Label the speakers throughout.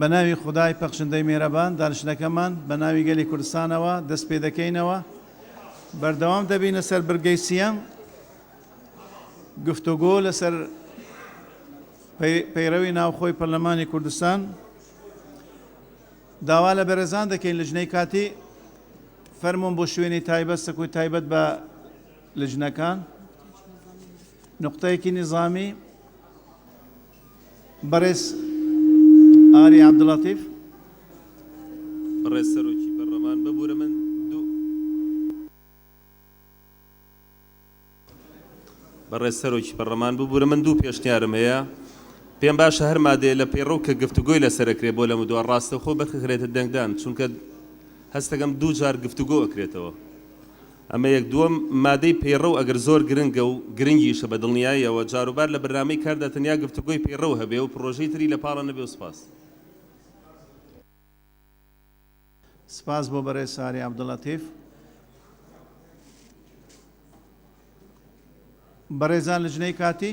Speaker 1: بەناوی خودای پەخشندەی مێرەبان دانشتنەکەمان بەناوی گەلی کوردستانەوە دەست پێ دەکەینەوە بەردەوام دەبینە سەر برگەی سیەم گفتوگۆ لەسەر پەیڕەوی ناوخۆی پەرلەمانی کوردستان داوا لە بەرەزان دەکەین لە ژنەی کاتی فەرمونون بۆ شوێنی تایبەت سەکوی تایبەت بە لە ژنەکان نقطەیەکی نظامی بەڕێز ئاری عەبدولەتیف.
Speaker 2: بەڕێز سەرۆکی پەرلەمان ببورە من دوو. بەڕێز سەرۆکی پەرلەمان ببورە من دوو پێشنیارم هەیە، پێم باشە هەر مادەیە لە پەیڕەو کە گفتوگۆی لەسەر ئەکرێت بۆ لەمەودوا ڕاستەوخۆ بخکرێتە دەنگدان، چونکە هەستەکەم دوو جار گفتوگۆ ئەکرێتەوە. ئەمە یەک دووەم، مادەی پەیڕەو ئەگەر زۆر گرنگە و گرنگیشە بە دڵنیاییەوە جاروبار لە برنامەی کاردا تەنیا گفتوگۆی پەیڕەو هەبێ و پڕۆژەی تری لە پاڵە نەبێ و سپاس.
Speaker 1: سپاس بۆ بەڕێز سارێ عەبدولەتیف. بەڕێزان لجنەی کاتی.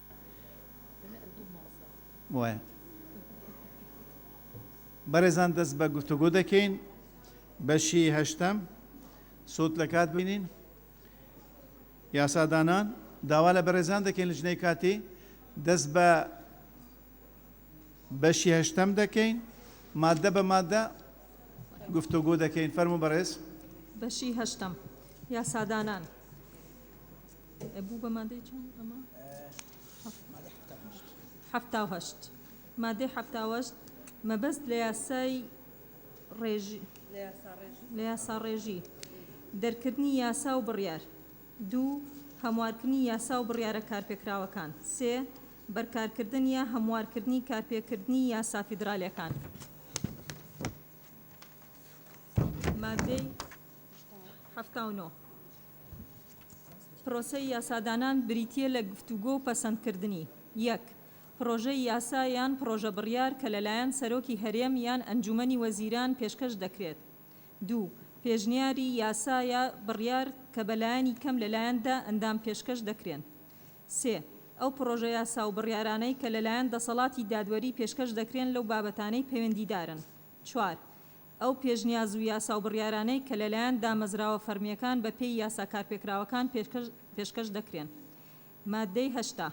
Speaker 1: بەڕێزان دەست بە گفتوگۆ دەکەین بەشی هەشتەم سوود لە کات بینین یاسادانان داوا لە بەڕێزان دەکەین لە ژنەی کاتی دەست بە بەشی هەشتەم دەکەین مادە بە مادە گفتوگۆ دەکەین فەرمو بەڕێز بەشی هەشتەم
Speaker 3: یاسادانان بوو بە مادەی چەند ئەمە؟ حەفتا و هەشت مادەی حەفتا و هەشت مەبەست لە یاسای ڕێژی لە یاسا ڕێژی دەرکردنی یاسا و بڕیار دوو هەموارکردنی یاسا و بڕیارە کارپێکراوەکان سێ بەرکارکردن یا هەموارکردنی کارپێکردنی یاسا فیدرالیەکان مادەی حەفتا و نۆ پرۆسەی یاسادانان بریتییە لە گفتوگۆ و پەسەندکردنی یەک پرۆژەی یاسا یان پرۆژە بڕیار کە لەلایەن سەرۆکی هەرێم یان ئەنجوومەنی وەزیران پێشکەش دەکرێت. دوو پێشنیاری یاسا یا بڕیار کە بە لایەنی کەم لەلایەن دە ئەندام پێشکەش دەکرێن. سێ ئەو پرۆژە یاسا و بڕیارانەی کە لەلایەن دەسەڵاتی دادوەری پێشکەش دەکرێن لەو بابەتانەی پەیوەندیدارن. چوار ئەو پێشنیاز و یاسا و بڕیارانەی کە لەلایەن دامەزراوە فەرمییەکان بە پێی یاسا کارپێکراوەکان پێشکەش دەکرێن. ماددەی هەشتا.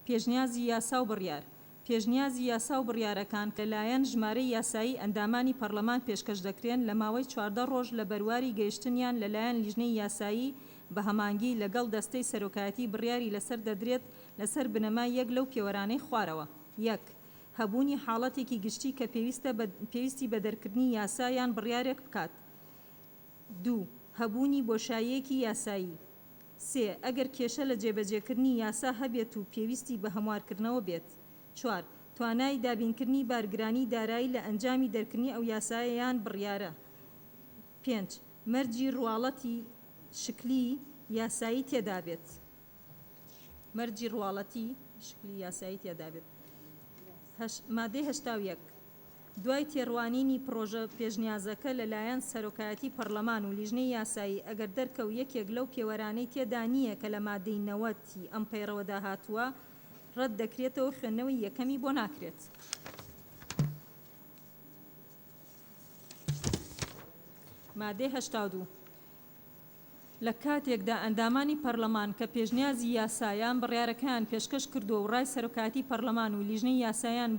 Speaker 3: پێشنیازی یاسا و بڕیار پێشنیازی یاسا و بڕیارەکان کە لەلایەن ژمارەی یاسایی ئەندامانی پەڕلەمان پێشکەش دەکرێن لە ماوەی چواردە ڕۆژ لە بەرواری گەیشتنیان لەلایەن لیژنەی یاسایی بە هەمانگی لەگەڵ دەستەی سەرۆکایەتی بڕیاری لەسەر دەدرێت لەسەر بنەمای یەک لەو پێوەرانەی خوارەوە یەک هەبوونی حاڵەتێکی گشتی کە پێویستە بە پێویستی بە دەرکردنی یاسا یان بڕیارێک بکات. دوو. هەبوونی بۆشاییەکی یاسایی. سێ. ئەگەر کێشە لە جێبەجێکردنی یاسا هەبێت و پێویستی بە هەموارکردنەوە بێت. چوار. توانای دابینکردنی بارگرانی دارایی لە ئەنجامی دەرکردنی ئەو یاسایە یان بڕیارە. پێنج. مەرجی ڕواڵەتی شکلی یاسایی تێدابێت. مەرجی ڕواڵەتی، شکلی یاسایی تیادا بێت. هەش، مادەی هەشتا و یەک، دوای تێڕوانینی پڕۆژە پێشنیازەکە لە لایەن سەرۆکایەتی پەڕلەمان و لیژنەی یاسایی، ئەگەر دەرکەو یەکێک لەو پێوەرانەی تێدا نییە کە لە مادەی نەوەد ی ئەم پەیڕەوەدا هاتووە، ڕەت دەکرێتەوە خوێندنەوەی یەکەمی بۆ ناکرێت. مادەی هەشتا و دوو. لە کاتێکدا ئەندامانی پەرلەمان کە پێشنیازی یاسا یان بڕیارەکەیان پێشکەش کردووە و ڕای سەرۆکایەتی پەرلەمان و لیژنەی یاسایان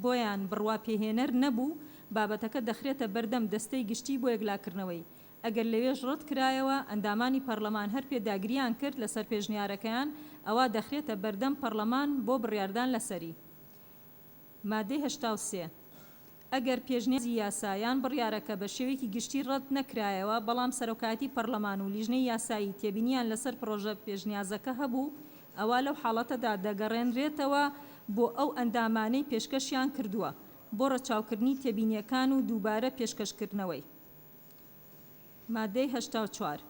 Speaker 3: بۆیان بڕواپێهێنەر نەبوو، بابەتەکە دەخرێتە بەردەم دەستەی گشتی بۆ یەکلاکردنەوەی، ئەگەر لەوێش ڕەتکرایەوە، ئەندامانی پەرلەمان هەر پێداگرییان کرد لەسەر پێشنیارەکەیان، ئەوا دەخرێتە بەردەم پەرلەمان بۆ بڕیاردان لەسەری. مادەی هەشتا و سێ. ئەگەر پێشنیازی یاسا یان بڕیارەکە بە شێوەیەکی گشتی ڕەت نەکرایەوە، بەڵام سەرۆکایەتی پەرلەمان و لیژنەی یاسایی تێبینیان لەسەر پڕۆژە پێشنیازەکە هەبوو، ئەوا لەو حاڵەتەدا دەگەڕێنرێتەوە بۆ ئەو ئەندامانەی پێشکەشیان کردووە بۆ ڕەچاوکردنی تێبینییەکان و دووبارە پێشکەشکردنەوەی. مادەی هەشتا و چوار.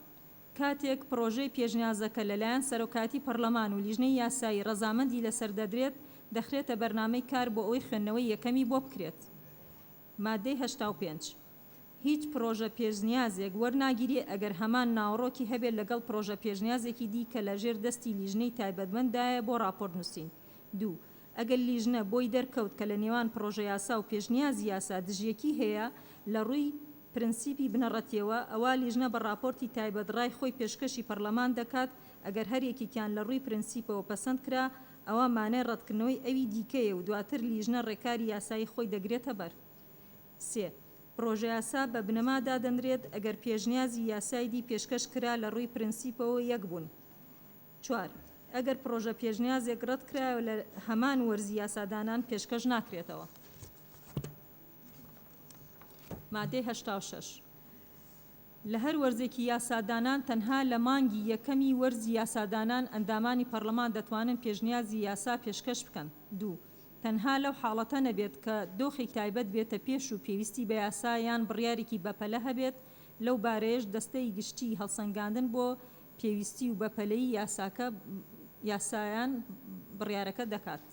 Speaker 3: کاتێک پڕۆژەی پێشنیازەکە لەلایەن سەرۆکایەتی پەڕلەمان و لیژنەی یاسایی ڕەزامەندی لەسەر دەدرێت، دەخرێتە بەرنامەی کار بۆ ئەوەی خوێندنەوەی یەکەمی بۆ بکرێت. ماددەی هەشتا و پێنج. هیچ پڕۆژە پێشنیازێک وەرناگیرێ ئەگەر هەمان ناوەڕۆکی هەبێت لەگەڵ پڕۆژە پێشنیازێکی دی کە لەژێر دەستی لیژنەی تایبەتمەنددایە بۆ ڕاپۆرت نووسین. دوو. ئەگەر لیژنە بۆی دەرکەوت کە لە نێوان پڕۆژەیاسا و پێشنیازی یاسا دژیەکی هەیە لە ڕووی پرنسیپی بنەڕەتیەوە، ئەوا لیژنە بە ڕاپۆرتی تایبەت ڕای خۆی پێشکەشی پەڕلەمان دەکات، ئەگەر هەر یەکێکیان لە ڕووی پرنسیپەوە پەسەند کرا، ئەوا مانای ڕەتکردنەوەی ئەوی دیکەیە و دواتر لیژنە ڕێکاری یاسایی خۆی دەگرێتە بەر. سێ. پڕۆژەیاسا بە بنەما دادەنرێت ئەگەر پێشنیازی یاسای دی پێشکەش کرا لە ڕووی پرنسیپەوە یەک بوون چوار. ئەگەر پڕۆژە پێشنیازێک ڕەت کرایەوە لە هەمان وەرزی یاسادانان پێشکەش ناکرێتەوە. مادەی هەشتا و شەش. لە هەر وەرزێکی یاسادانان تەنها لە مانگی یەکەمی وەرزی یاسادانان ئەندامانی پەڕڵەمان دەتوانن پێشنیازی یاسا پێشکەش بکەن. دوو. تەنها لەو حاڵەتە نەبێت کە دۆخێک تایبەت بێتە پێش و پێویستی بە یاسا یان بڕیارێکی بەپەلە هەبێت لەو بارەیەش دەستەی گشتیی هەڵسەنگاندن بۆ پێویستی و بەپەلەی یاساکە یاسایان بڕیارەکە دەکات.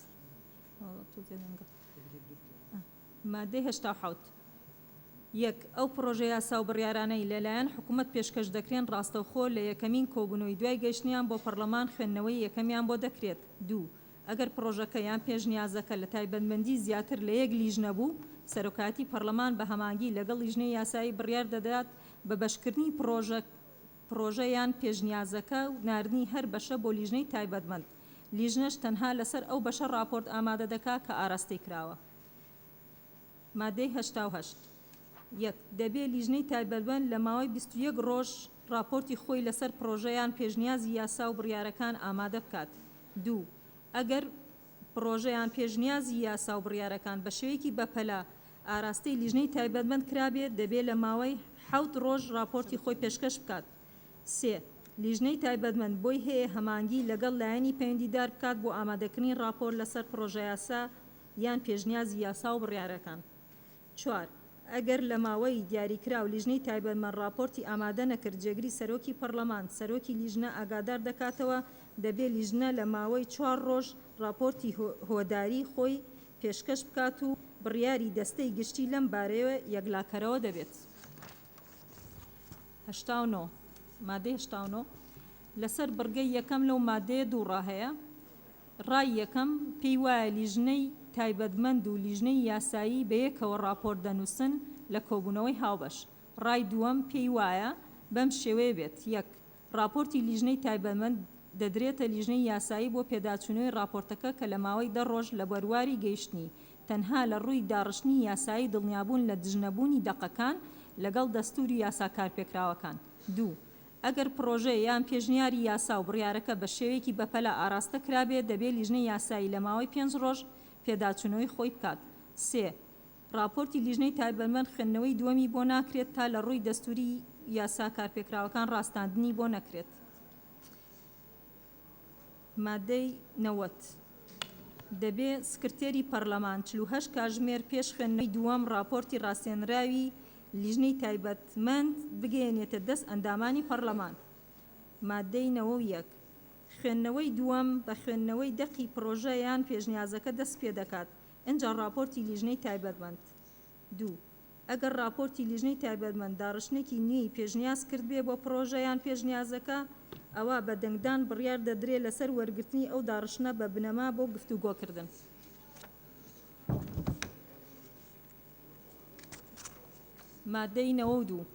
Speaker 3: مادەی هەشتا و حەوت. یەک. ئەو پڕۆژە یاسا و بڕیارانەی لە لایەن حکوومەت پێشکەش دەکرێن ڕاستەوخۆ لە یەکەمین کۆبوونەوەی دوای گەیشتنیان بۆ پەڕڵەمان خوێندنەوەی یەکەمیان بۆ دەکرێت. دوو. ئەگەر پڕۆژەکە یان پێشنیازەکە لە تایبەتمەندی زیاتر لە یەک لیژنە بوو، سەرۆکایەتی پەڕڵەمان بە هەمانگی لەگەڵ لیژنەی یاسایی بڕیار دەدات بە بەشکردنی پڕۆژە پڕۆژە یان پێشنیازەکە و ناردنی هەر بەشە بۆ لیژنەی تایبەتمەند، لیژنەش تەنها لەسەر ئەو بەشە ڕاپۆرت ئامادە دەکات کە ئاراستەی کراوە. مادەی هەشتا و هەشت. یەک. دەبێت لیژنەی تایبەتمەند لە ماوەی بیست و یەک ڕۆژ ڕاپۆرتی خۆی لەسەر پڕۆژە یان پێشنیازی یاسا و بڕیارەکان ئامادە بکات. دوو. ئەگەر پڕۆژەیان پێشنیازی یاسا و بڕیارەکان بە شێوەیەکی بەپەلە ئاراستەی لیژنەی تایبەتمەند کرابێت، دەبێت لە ماوەی حەوت ڕۆژ ڕاپۆرتی خۆی پێشکەش بکات. سێ. لیژنەی تایبەتمەند بۆی هەیە هەمانگی لەگەڵ لایەنی پەیوەندیدار بکات بۆ ئامادەکردنی ڕاپۆرت لەسەر پڕۆژەیاسا یان پێشنیازی یاسا و بڕیارەکان. چوار، ئەگەر لە ماوەی دیاریکراو لیژنەی تایبەتمەند ڕاپۆرتی ئامادە نەکرد، جێگری سەرۆکی پەڕڵەمان، سەرۆکی لیژنە ئاگادار دەکاتەوە، دەبێ لیژنە لە ماوەی چوار ڕۆژ ڕاپۆرتی هۆداری خۆی پێشکەش بکات و بڕیاری دەستەی گشتی لەم بارەیەوە یەکلاکەرەوە دەبێت. هەشتا و نۆ، مادەی هەشتا و نۆ لەسەر بڕگەی یەکەم لەو مادەیە دوو ڕا هەیە، ڕای یەکەم، پێی وایە لیژنەی تایبەتمەند و لیژنەی یاسایی بەیەکەوە ڕاپۆرت دەنووسن لە کۆبوونەوەی هاوبەش. ڕای دووەم، پێی وایە بەم شێوەیە بێت، یەک. ڕاپۆرتی لیژنەی تایبەتمەند دەدرێتە لیژنەی یاسایی بۆ پێداچوونەوەی ڕاپۆرتەکە کە لە ماوەی دە ڕۆژ لە بەرواری گەیشتنی، تەنها لە ڕووی داڕشتنی یاسایی دڵنیابوون لە دژنەبوونی دەقەکان لەگەڵ دەستوور و یاسا کارپێکراوەکان. دوو. ئەگەر پڕۆژە یان پێشنیاری یاسا و بڕیارەکە بە شێوەیەکی بەپەلە ئاراستە کرابێت، دەبێت لیژنەی یاسایی لە ماوەی پێنج ڕۆژ پێداچوونەوەی خۆی بکات. سێ. ڕاپۆرتی لیژنەی تایبەتمەند خوێندنەوەی دووەمی بۆ ناکرێت تا لە ڕووی دەستووری و یاسا کارپێکراوەکان ڕاستاندنی بۆ نەکرێت. مادەی نەوەد، دەبێ سکرتێری پەرلەمان چل و هەشت کاژمێر پێش خوێندنەوەی دووەم ڕاپۆرتی ڕاستێنراوی لیژنەی تایبەتمەند بگەیەنێتە دەست ئەندامانی پەرلەمان. مادەی نەوە و یەک، خوێندنەوەی دووەم بە خوێندنەوەی دەقی پڕۆژە یان پێشنیازەکە دەست پێدەکات، ئینجا ڕاپۆرتی لیژنەی تایبەتمەند. دوو. ئەگەر ڕاپۆرتی لیژنەی تایبەتمەند داڕشتنێکی نوێی پێشنیاز کردبێ بۆ پڕۆژە یان پێشنیازەکە، ئەوا بە دەنگدان بڕیار دەدرێ لەسەر وەرگرتنی ئەو داڕشتنە بە بنەما بۆ گفتوگۆکردن. ماددەی نەوەد و دوو.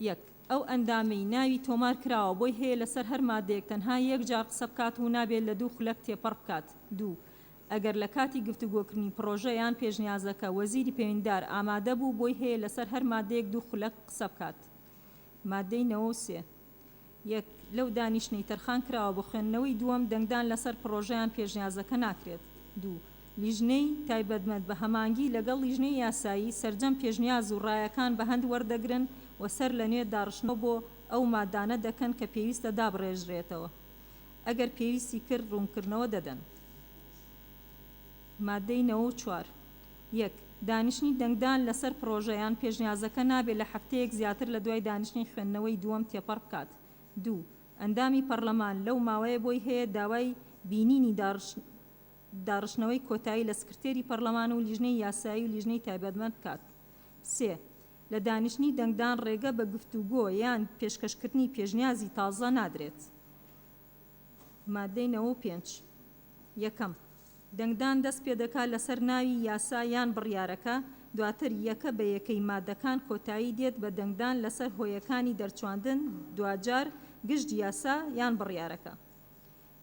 Speaker 3: یەک. ئەو ئەندامەی ناوی تۆمار کراوە بۆی هەیە لەسەر هەر ماددەیەک تەنها یەک جار قسە بکات و نابێت لە دوو خولەک تێپەڕ بکات. دوو. ئەگەر لە کاتی گفتوگۆکردنی پڕۆژە یان پێشنیازەکە وەزیری پەیوەندیدار ئامادە بوو بۆی هەیە لەسەر هەر ماددەیەک دوو خولەک قسە بکات. ماددەی نەوە و سێ. یەک لەو دانیشتنەی تەرخان کراوە بۆ خوێندنەوەی دووەم دەنگدان لەسەر پڕۆژەیان پێشنیازەکە ناکرێت. دوو لیژنەی تایبەتمەند بە هەمانگی لەگەڵ لیژنەی یاسایی سەرجەم پێشنیاز و ڕایەکان بە هەند وەردەگرن و سەر لەنوێ داڕشتنەوە بۆ ئەو مادانە دەکەن کە پێویستە دابڕێژرێتەوە ئەگەر پێویستی کرد ڕوونکردنەوە دەدەن. مادەی نەوە و چوار. یەک. دانیشتنی دەنگدان لەسەر پڕۆژە یان پێشنیازەکە نابێت لە هەفتەیەک زیاتر لە دوای دانیشتنی خوێندنەوەی دووەم تێپەڕ بکات. دوو. ئەندامی پەڕلەمان لەو ماوەیە بۆی هەیە داوای بینینی داڕشتنەوەی کۆتایی لە سکرتێری پەڕلەمان و لیژنەی یاسایی و لیژنەی تایبەتمەند بکات. سێ. لە دانیشتنی دەنگدان ڕێگە بە گفتوگۆ یان پێشکەشکردنی پێشنیازی تازە نادرێت. ماددەی نەوە و پێنج. یەکەم. دەنگدان دەست پێ دەکات لەسەر ناوی یاسا یان بڕیارەکە، دواتر یەکە بە یەکەی مادەکان کۆتایی دێت بە دەنگدان لەسەر هۆیەکانی دەرچواندن، دواجار گشت یاسا یان بڕیارەکە.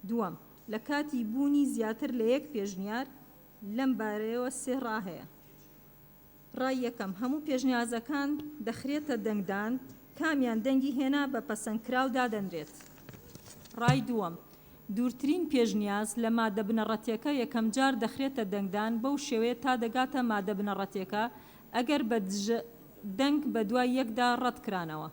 Speaker 3: دووەم، لە کاتی بوونی زیاتر لە یەک پێشنیار، لەم بارەیەوە سێ ڕا هەیە. ڕای یەکەم، هەموو پێشنیازەکان دەخرێتە دەنگدان، کامیان دەنگی هێنا بە پەسەندکراو دادەنرێت. ڕای دووەم، دوورترین پێشنیاز لە ماددە بنەڕەتیەکە یەکەمجار دەخرێتە دەنگدان بەو شێوەیە تا دەگاتە ماددە بنەڕەتیەکە ئەگەر بە دژە دەنگ بەدوای یەکدا ڕەتکرانەوە.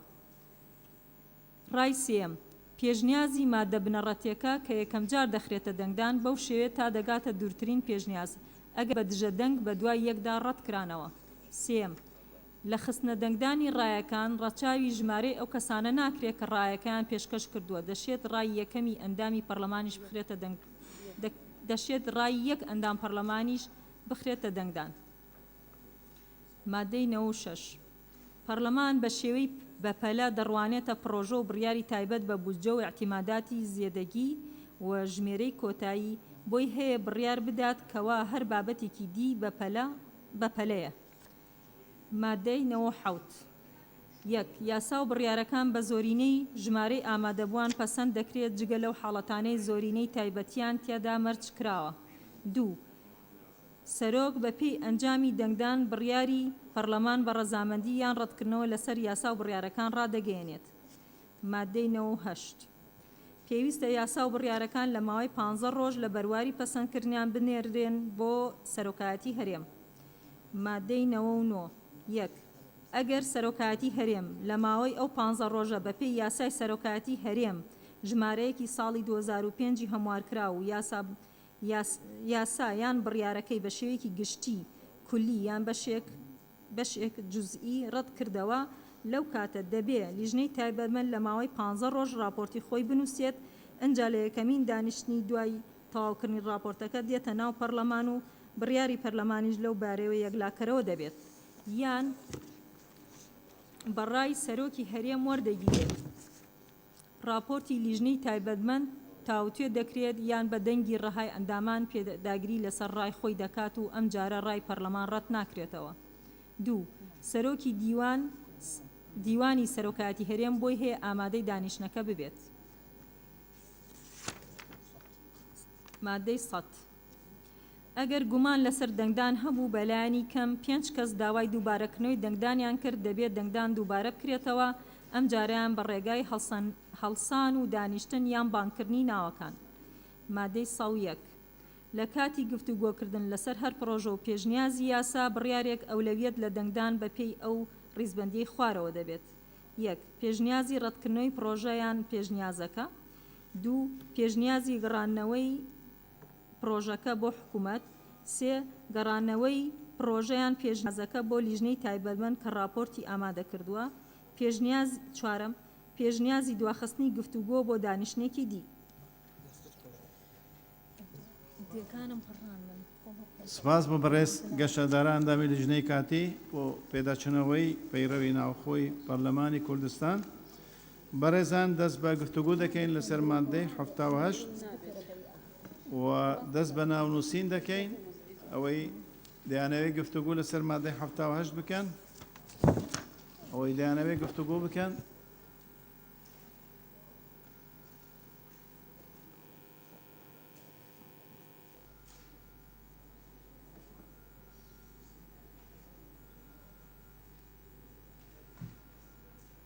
Speaker 3: ڕای سێیەم، پێشنیازی ماددە بنەڕەتیەکە کە یەکەمجار دەخرێتە دەنگدان بەو شێوەیە تا دەگاتە دوورترین پێشنیاز ئەگەر بە دژە دەنگ بە دوای یەکدا ڕەت کرانەوە. سێیەم، لە خستنە دەنگدانی ڕایەکان ڕەچاوی ژمارەی ئەو کەسانە ناکرێت کە ڕایەکەیان پێشکەش کردووە، دەشێت ڕای یەکەمی ئەندامی پەرلەمانیش بخرێتە دەنگ دەشێت ڕای یەک ئەندام پەرلەمانیش بخرێتە دەنگدان. مادەی نەوە و شەش، پەڕلەمان بە شێوەی بە پەلە دەڕوانێتە پڕۆژە و بڕیاری تایبەت بە بودجە و ئیعتیماداتی زێدەگی و ژمێرەی کۆتایی بۆی هەیە بڕیار بدات کەوا هەر بابەتێکی دی بە پەلە بە پەلەیە. مادەی نەوە و حەوت، یەک. یاسا و بڕیارەکان بە زۆرینەی ژمارەی ئامادەبووان پەسەند دەکرێت جگە لەو حاڵەتانەی زۆرینەی تایبەتیان تیادا مەرج کراوە. دوو. سەرۆک بە پێی ئەنجامی دەنگدان بڕیاری پەڕلەمان بە ڕەزامەندی یان ڕەتکردنەوە لە سەر یاسا و بڕیارەکان ڕادەگەیەنێت. ماددەی نەوە و هەشت. پێویستە یاسا و بڕیارەکان لە ماوەی پانزە ڕۆژ لە بەرواری پەسەندکردنیان بنێردرێن بۆ سەرۆکایەتی هەرێم. ماددەی نەوە و نۆ. یەک. ئەگەر سەرۆکایەتی هەرێم لە ماوەی ئەو پانزە ڕۆژە بە پێی یاسای سەرۆکایەتی هەرێم ژمارەیەکی ساڵی دوو هەزار و پێنج ی هەموارکراو و یاسا یاسا یان بڕیارەکەی بە شێوەیەکی گشتی، کلی، یان بەشێک، بەشێک جزئی، ڕەت کردەوە، لەو کاتە دەبێ لیژنەی تایبەتمەند لە ماوەی پانزە ڕۆژ ڕاپۆرتی خۆی بنووسێت، ئنجا لە یەکەمین دانیشتنی دوای تەواوکردنی ڕاپۆرتەکە دێتە ناو پەرلەمان و بڕیاری پەرلەمانیش لەو بارەیەوە یەکلاکەرەوە دەبێت یان بە ڕای سەرۆکی هەرێم وەردەگیرێت. ڕاپۆرتی لیژنەی تایبەتمەند تاوتوێ دەکرێت یان بە دەنگی ڕەهای ئەندامان پێداگری لەسەر ڕای خۆی دەکات و ئەمجارە ڕای پەرلەمان ڕەت ناکرێتەوە. دوو، سەرۆکی دیوان، دیوانی سەرۆکایەتی هەرێم بۆی هەیە ئامادەی دانیشتنەکە ببێت. ماددەی سەد. ئەگەر گومان لەسەر دەنگدان هەبوو بە لایەنی کەم پێنج کەس داوای دووبارەکرنەوەی دەنگدانیان کرد دەبێت دەنگدان دووبارە بکرێتەوە ئەم جارەیان بە ڕێگای هەڵسان و دانیشتن یان بانگکردنی ناوەکان مادەی سەد و یەک لە کاتی گفتوگۆکردن لەسەر هەر پڕۆژە و پێشنیازی یاسا بڕیارێک ئەولەویەت لە دەنگدان بە پێی ئەو ڕیزبەندیەی خوارەوە دەبێت یەک پێشنیازی ڕەتکردنەوەی پڕۆژە یان پێشنیازەکە دوو پێشنیازی گڕاننەوەی پڕۆژەکە بۆ حکومەت، سێ، گەڕانەوەی پڕۆژە یان پێشنیازەکە بۆ لیژنەی تایبەتمەند کە ڕاپۆرتی ئامادەکردووە، پێشنیازی، چوارەم، پێشنیازی دواخستنی گفتوگۆ بۆ دانیشتنێکی دی.
Speaker 1: سپاس بۆ بەڕێز گەشەدارە ئەندامی لیژنەی کاتی بۆ پێداچونەوەی پەیڕەوی ناوخۆی پەرلەمانی کوردستان. بەڕێزان دەست بە گفتوگۆ دەکەین لەسەر ماددەی حەفتا و هەشت و دەست بە ناونووسین دەکەین ئەوەی دەیانەوێت گفتوگۆ لەسەر مادەی حەفتا و هەشت بکەن ئەوەی دەیانەوێت گفتوگۆ بکەن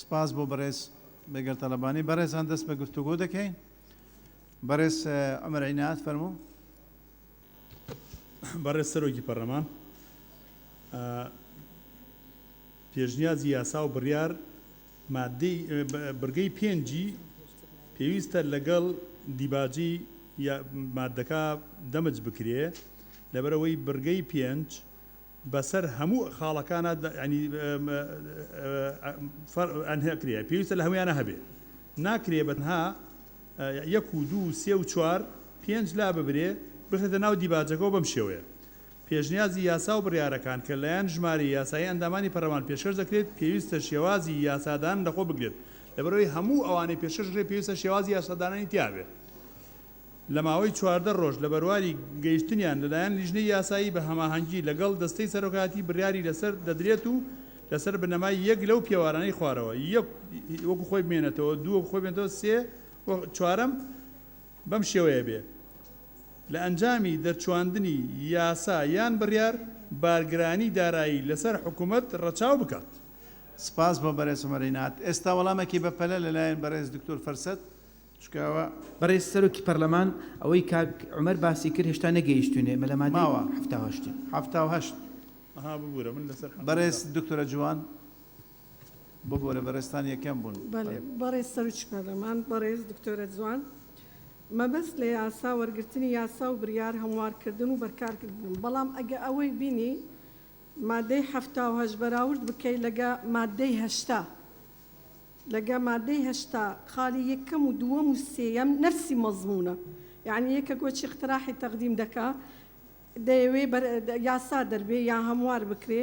Speaker 1: سپاس بۆ بەڕێز بەگەر تەلبانی بەڕێزان دەست بە گفتوگۆ دەکەین بەڕێز ئەمەر عینات فەرموو
Speaker 4: بەڕێز سەرۆکی پەرلەمان پێشنیازی یاسا و بڕیار ماددەی بڕگەی پێنجی پێویستە لەگەڵ دیباجی ماددەکە دەمج بکرێ لەبەرئەوەی بڕگەی پێنج بەسەر هەموو خاڵەکانا ئەنهکرێ پێویستە لە هەموویانا هەبێ ناکرێ بەتەنها یەک و دوو و سێ و چوار پێنج لاببرێ بخرێتە ناو دیباجەکەوە بەم شێوەیە پێشنیازی یاسا و بڕیارەکان کە لەلایەن ژمارەی یاسایی ئەندامانی پەرلەمان پێشکەش دەکرێت پێویستە شێوازی یاسادانان لەخۆ بگرێت لەبەرئەوەی هەموو ئەوانەی پێشکەش دەکرێت پێویستە شێوازی یاسادانانی تیابێت لە ماوەی چواردە رۆژ لە بەرواری گەیشتنیان لەلایەن لیژنەی یاسایی بە هەماهەنگی لەگەڵ دەستەی سەرۆکایەتی بڕیاری لەسەر دەدرێت و لەسەر بنەمای یەک لەو پێوارانەی خوارەوە یەک وەکو خۆی بمێنێتەوە دوو وەکو خۆی بمێنێتەوە سێ و چوارەم بەم شێوەیە بێ لە ئەنجامی دەرچواندنی یاسا یان بڕیار بارگرانی دارایی لەسەر حکومەت ڕەچاو بکات. سپاس بۆ
Speaker 1: بەرێز عومەر رینات. ئێستا وەڵامەکی بە پەلە لە لایەن بەڕێز دکتۆر فەرسەت چکاوە. بەڕێز سەرۆکی
Speaker 5: پەرلەمان، ئەوەی کاک عومەر باسی کرد هێشتا نەگەیشتوینێ مە لە مادەی ماوە. حەفتا و هەشت.
Speaker 1: حەفتا و
Speaker 5: هەشت. ئەها
Speaker 4: ببورە من لەسەر حەفتا و هەشت. بەڕێز دکتۆرە
Speaker 1: جوان. ببورە بەڕێزتان یەکەم بوون. بەڵێ بەڕێز سەرۆکی
Speaker 6: پەرلەمان، بەڕێز دکتۆرە جوان، مەبەست لە یاسا وەرگرتنی یاسا و بریار هەموار کردن و بەرکار گرتنم، بەڵام ئەگە ئەوەی بینی مادەی حەفتا و هەشت بەراورد بکەی لەگە مادەی هەشتا لەگە مادەی هەشتا خالی یەکەم و دووەم و سێیەم نەفسی مەزمونە یەعنی یەکەک وەچی اقتراحی تقدیم دەکا دەیەوێ بەر یاسا دەربێ یا هەموار بکرێ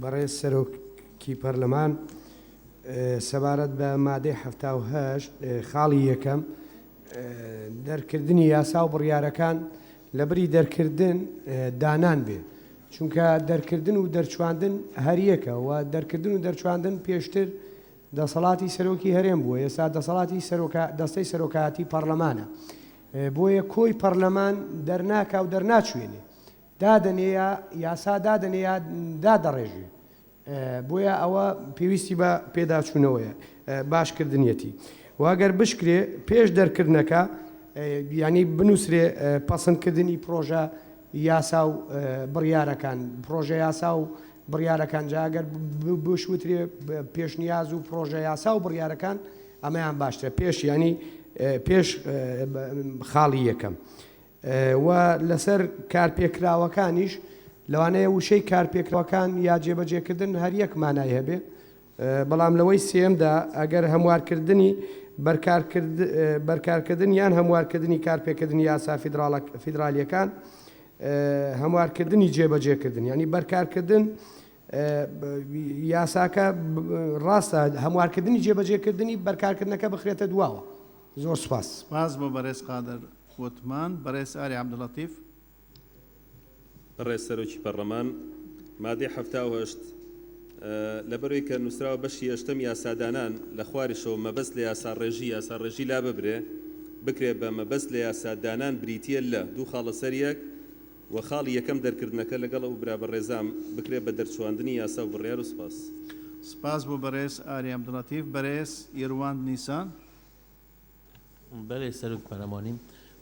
Speaker 7: بەڕێز سەرۆکی پەرلەمان، سەبارەت بە مادەی حەفتا و هەشت خاڵی یەکەم، دەرکردنی یاسا و بڕیارەکان لەبری دەرکردن دانان بێ، چونکە دەرکردن و دەرچواندن هەریەکە و دەرکردن و دەرچواندن پێشتر دەسەڵاتی سەرۆکی هەرێم بووە، ئێستا دەسەڵاتی دەستەی سەرۆکایەتی پەڕلەمانە، بۆیە کۆی پەڕلەمان دەرناکا و دەرناچوێنێ، دادەنێیا یاسا دادەنێ یا دادەڕێژێ بۆیە ئەوە پێویستی بە پێداچوونەوەیە باش کردنیەتی و گەر بشکرێ پێش دەرکردنەکە ینی بنووسرێ پەسندکردنی پرۆژە یاسا و بڕیارەکان پرۆژە یاسا و بڕیارەکان جاگەر بشوترێ پێشنیاز و پرۆژە یاسا و بڕیارەکان ئەمەیان باشترە پێش ینی پێش خاڵی یەکەم و لەسەر کارپێکراوەکانیش، لەوانەیە وشەی کارپێکراوەکان یا جێبەجێکردن هەر یەک مانای هەبێ، بەڵام لەوەی سێیەمدا ئەگەر هەموارکردنی بەرکارکردن یان هەموارکردنی کارپێکردنی یاسا فیدراڵییەکان، هەموارکردنی جێبەجێکردن یانی بەرکارکردن، یاساکە ڕاستە هەموارکردنی جێبەجێکردنی بەرکارکردنەکە بخرێتە دواوە. زۆر سوپاس. سپاس بۆ بەڕێز
Speaker 1: قادر وتمان. بەڕێز ئاری عەبدولەتیف.
Speaker 2: بەڕێز سەرۆکی پەڕڵەمان، مادەی حەفتا و هەشت لەبەرەوەی کە نووسراوە بەشی هێشتەم یاسادانان لە خواریشەوە مەبەست لە یاسا ڕێژی یاسا ڕێژی لاببرێ بکرێ بە مەبەست لە یاسا دانان بریتییە لە دوو خاڵە سەر یەک و خاڵی یەکەم دەرکردنەکە لەگەڵ ئەو برا بەڕێزام بکرێت بە دەرچواندنی یاسا و بڕیار و سپاس. سپاس بۆ
Speaker 1: بەڕێز ئاری عەبدولەتیف. بەرێز یروانت نیسان. بەرێز
Speaker 8: سەرۆک پەرلەمانی،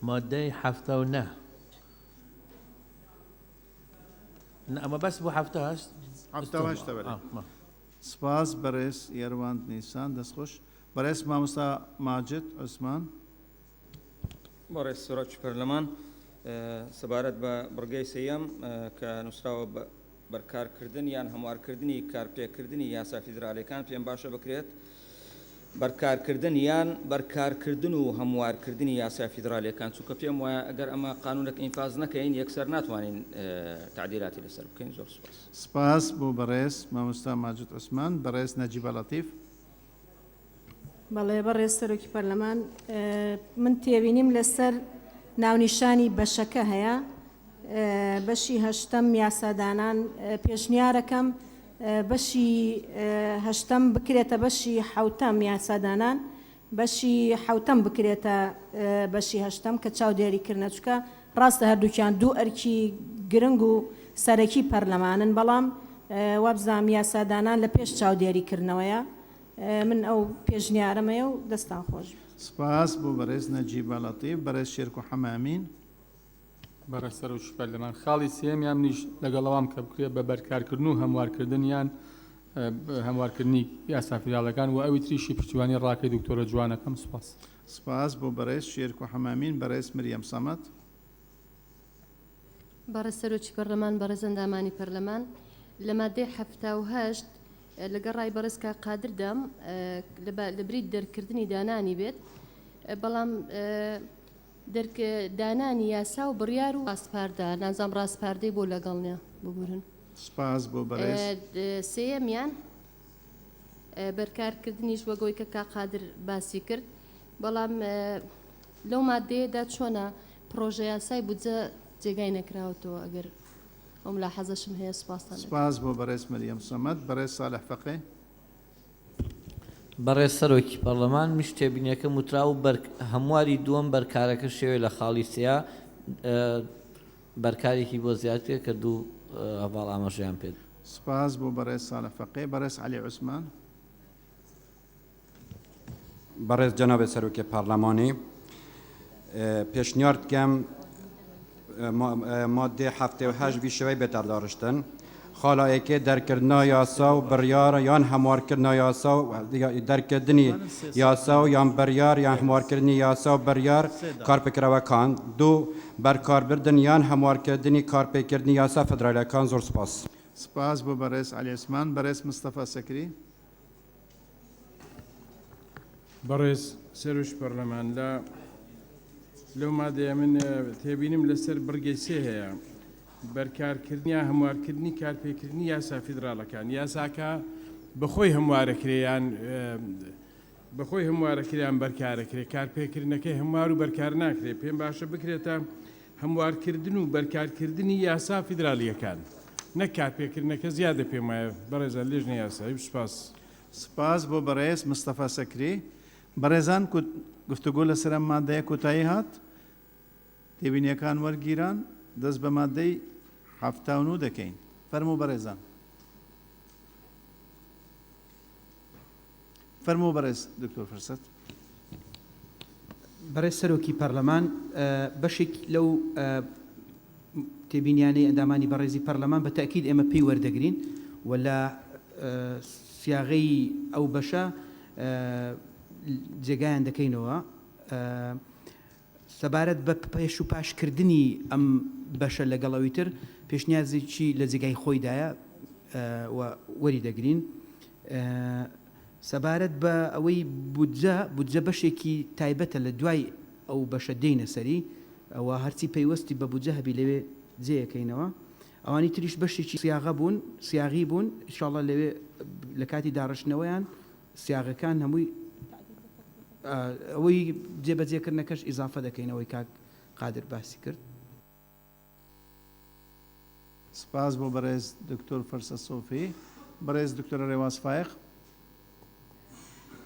Speaker 8: مادەی حەفتا و نە. نە ئەمە بەس بۆ حەفتا و هەشت. حەفتا و هەشتە بەرێز.
Speaker 1: سپاس بەڕێز یروانت نیسان. دەست خۆش. بەڕێز مامۆستا ماجد عوسمان.
Speaker 9: بەڕێز سراج پەرلەمان سەبارەت بە بڕگەی سێیەم کە نووسراوە بە بەرکارکردن یان هەموارکردنی کارپێکردنی یاسا فیدرالیەکان پێم باشە بکرێت بەرکارکردن یان بەرکارکردن و هەموارکردنی یاسا فیدرالیەکان چونکە پێم وایە ئەگەر ئەمە قانونەک ئینفاز نەکەین یەکسەر ناتوانین تعدیلاتی لەسەر بکەین زۆر سپاس سپاس بۆ
Speaker 1: بەڕێز مامۆستا ماجد عوسمان بەڕێز نەجیبە لەتیف بەڵێ
Speaker 10: بەڕێز سەرۆکی پەرلەمان من تێبینیم لەسەر ناونیشانی بەشەکە هەیە بەشی هەشتەم یاسادانان پێشنیارەکەم بەشی هەشتەم بکرێتە بەشی حوتەم یاسادانان بەشی حوتەم بکرێتە بەشی هەشتەم کە چاودێری کردە چکە ڕاستە هەردووکیان دوو ئەرکی گرنگ و سەرەکی پەرلەمانن بەڵام وابزانام یاسادانان لە پێش چاودێری کردنەوەیە من ئەو پێشنیارەم هەیە و دەستتان خۆش بێت. سپاس بۆ
Speaker 1: بەڕێز نەجیبە لەتیف. بەڕێز شێرکۆ حەمامین.
Speaker 11: بەڕێز سەرۆک شوفێر لەمان خاڵی سێیەمیان منیش لەگەڵ ئەوام کە بکرێت بە بەرکارکردن و هەموارکردن یان هەموارکردنی یاسا فیدراڵەکان و ئەوی تریشی پشتیوانی ڕاکەی دکتۆرە جوانەکەم. سپاس. سپاس بۆ
Speaker 1: بەڕێز شێرکۆ حەمامین. بەڕێز مریەم سەمەد.
Speaker 12: بەڕێز سەرۆکی پەرلەمان، بەڕێز ئەندامانی پەرلەمان، لە مادەی حەفتا و هەشت لەگەڵ ڕای بەڕێز کاک قادردام لە بری دەرکردنی دانانی بێت، بەڵام دانانی یاسا و بڕیار و ڕاسپاردە، نازانم ڕاسپاردەی بۆ لەگەڵ نییە، ببورن. سپاس بۆ
Speaker 1: بەڕێز. سێیەمیان،
Speaker 12: بەرکارکردنیش وەک ئەوەی کە کاک قادر باسی کرد، بەڵام لەو ماددەیەدا چۆنە پڕۆژەیاسای بودجە جێگای نەکراوەتەوە ئەگەر ئەو ملاحەزەشم هەیە سوپاستان دەکەم. سپاس بۆ بەڕێز
Speaker 1: مریەم سەمەد. بەڕێز ساڵح فەقێ.
Speaker 8: بەڕێز سەرۆکی پەڕڵەمان، میش تێبینیەکەم وتراو بەر هەمواری دووەم بەر کارەکە شێوێ لە خاڵی سێیا بەر کارێکی بۆ زیاد کرێ کە دوو هەڤاڵ ئاماژەیان پێ دا. سپاس بۆ بەڕێز
Speaker 1: ساڵح فەقێ. بەڕێز عەلی عوسمان.
Speaker 13: بەڕێز جەنابێت سەرۆکی پارلەمانی پێشنیارت کەم مادێ هەفتێ و هەش بیشەوەی بێتەر داڕشتن خاڵایەکێ دەرکردنا یاسا و بڕیارە یان هەموارکردنا یاسا و دەرکردنی یاسا و یان بڕیار یان هەموارکردنی یاسا و بڕیار کارپکرەوەکان دوو بەرکاربردن یان هەموارکردنی کارپێکردنی یاسا فدرالەکان زۆر سپاس سپاس بۆ
Speaker 1: بەڕێز علی عوسمان بەڕێز مستەفا سەکری
Speaker 14: بەڕێز سەرۆش پەرلەمان لە لەو مادەیە من تێبینم لەسەر بڕگەی سێ هەیە بەرکارکردنی یا هەموارکردنی کارپێکردنی یاسا فیدراڵەکان یاساکە بەخۆی هەموارەکریان بەخۆی هەموارەکریان بەرکارەکرێ کارپێکردنەکەی هەموار و بەرکار ناکرێت پێم باشە بکرێتە هەموارکردن و بەرکارکردنی یاسا فیدرالییەکان نەک کارپێکردنەکە زیادە پێم وایە بەڕێزان لێژنەی یاسایی سوپاس. سپاس بۆ
Speaker 1: بەڕێز مستەفا سەکری. بەڕێزان گفتوگۆ لەسەر ئەم مادەیە کۆتایی هات. تێبینیەکان وەرگیران. دەست بە مادەی حەفتا و نۆ دەکەین. فەرموو بەڕێزان. فەرموو بەڕێز دکتۆر فرسەت.
Speaker 5: بەڕێز سەرۆکی پەرلەمان بەشێک لەو تێبینیانەی ئەندامانی بەڕێزی پەرلەمان بە تەئکید ئێمە پێی وەردەگرین و لە سیاغەی ئەو بەشە جێگایان دەکەینەوە. سەبارەت بە پێش و پاش کردنی ئەم بەشە لەگەڵ ئەوی تر پێشنیازێکی لە جێگای خۆیدایە و وەری دەگرین. سەبارەت بە ئەوەی بودجە، بودجە بەشێکی تایبەتە لە دوای ئەو بەشە دێینە سەری و هەرچی پەیوەستی بە بودجە هەبی لەوێ جێ ئەکەینەوە. ئەوانی تریش بەشێکی سیاغە بوون، سیاغی بوون، ئیشاڵڵا لەوێ لە کاتی داڕشتنەوەیان سیاغەکان هەمووی ئەوەی جێ بەجێ کردنەکەش ئیزافە دەکەین ئەوەی کاک قادر باسی کرد.
Speaker 1: سپاس بۆ بەڕێز دکتۆر فەرسە سۆفی. بەڕێز دکتۆرە رێواز فایەق.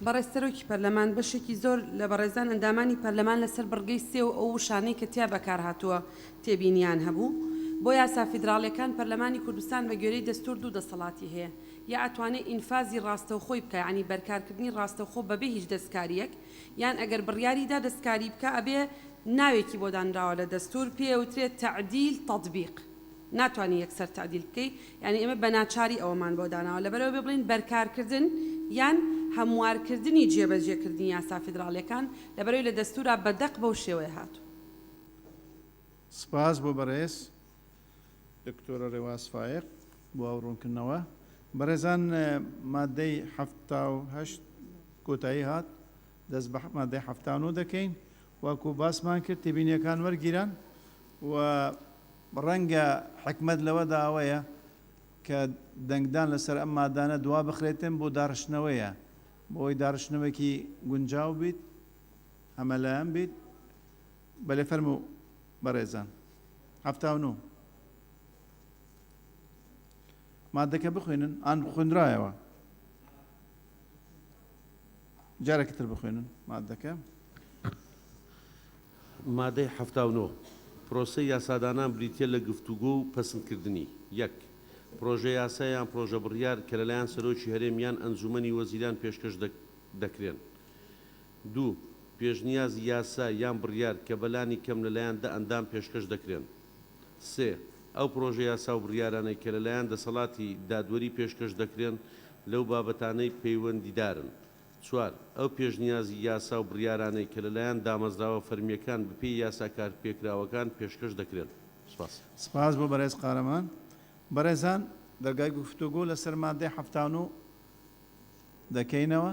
Speaker 1: بەڕێز
Speaker 15: سەرۆکی پەرلەمان، بەشێکی زۆر لە بەڕێزان ئەندامانی پەرلەمان لەسەر بڕگەی سێ و ئەو وشانەی کە تیا بەکارهاتووە تێبینییان هەبوو. بۆ یاسا فیدراڵییەکان پەرلەمانی کوردستان بە گوێرەی دەستوور دوو دەسەڵاتی هەیە، یا ئەتوانێت ئینفازی ڕاستەوخۆی بکا یانی بەرکارکردنی ڕاستەوخۆ بەبێ هیچ دەستکاریەک یان ئەگەر بڕیاری دا دەستکاری بکا ئەبێ ناوێکی بۆ دانراوە لە دەستور پێی ئەوترێت تەعدیل تەطبیق ناتوانی یەکسەر تەعدیل بکەی یانی ئێمە بەناچاری ئەوەمان بۆ داناوە لەبەرئەوە بێ بڵێین بەرکارکردن یان هەموارکردنی جێبەجێکردنی یاسا فیدراڵیەکان لەبەرەوەی لە دەستورا بەدەق بەو شێوەیە هاتوە. سپاس
Speaker 1: بۆ بەڕێز دکتۆرە رێواز فایەق بۆ ئەو ڕوونکردنەوە. بەڕێزان مادەی حەفتا و هەشت کۆتایی هات دەست بە مادەی حەفتا و نۆ دەکەین وەکو باسمان کرد تێبینیەکان وەرگیران و ڕەنگە حکمەت لەوە داوەیە کە دەنگدان لەسەر ئەم مادانە دوا بخرێتن بۆ داڕشتنەوەیە بۆی داڕشتنەوەکی گونجاو بیت هەمەلایەن بیت بەلێ فەرموو بەڕێزان حەفتا و نۆ مادەکە بخوێنن ئان خوێنرایەوە جارێکی تر بخوێنن مادەکە
Speaker 16: مادەی حەفتا و نۆ پرۆسەی یاسادانان بریتییە لە گفتوگۆ و پەسندکردنی یەک پرۆژەیاسا یان پرۆژە بڕیار کە لەلایەن سەرۆکی هەرێم یان ئەنجوومەنی وەزیران پێشکەش دەکرێن دوو، پێشنیازی یاسا یان بڕیار کە بە لانی کەم لە لایەن دە ئەندام پێشکەش دەکرێن. سێ، ئەو پڕۆژە یاسا و بڕیارانەی کە لە لایەن دەسەڵاتی دادوەری پێشکەش دەکرێن لەو بابەتانەی پەیوەندیدارن. چوار، ئەو پێشنیازی یاسا و بڕیارانەی کە لە لایەن دامەزراوە فەرمییەکان بە پێی یاسا کارپێکراوەکان پێشکەش دەکرێن. سپاس. سپاس
Speaker 1: بۆ بەرێز قارەمان. بەڕێزان دەرگای گوفتوگۆ لەسەر مادەی حەفتا و نۆ دەکەینەوە.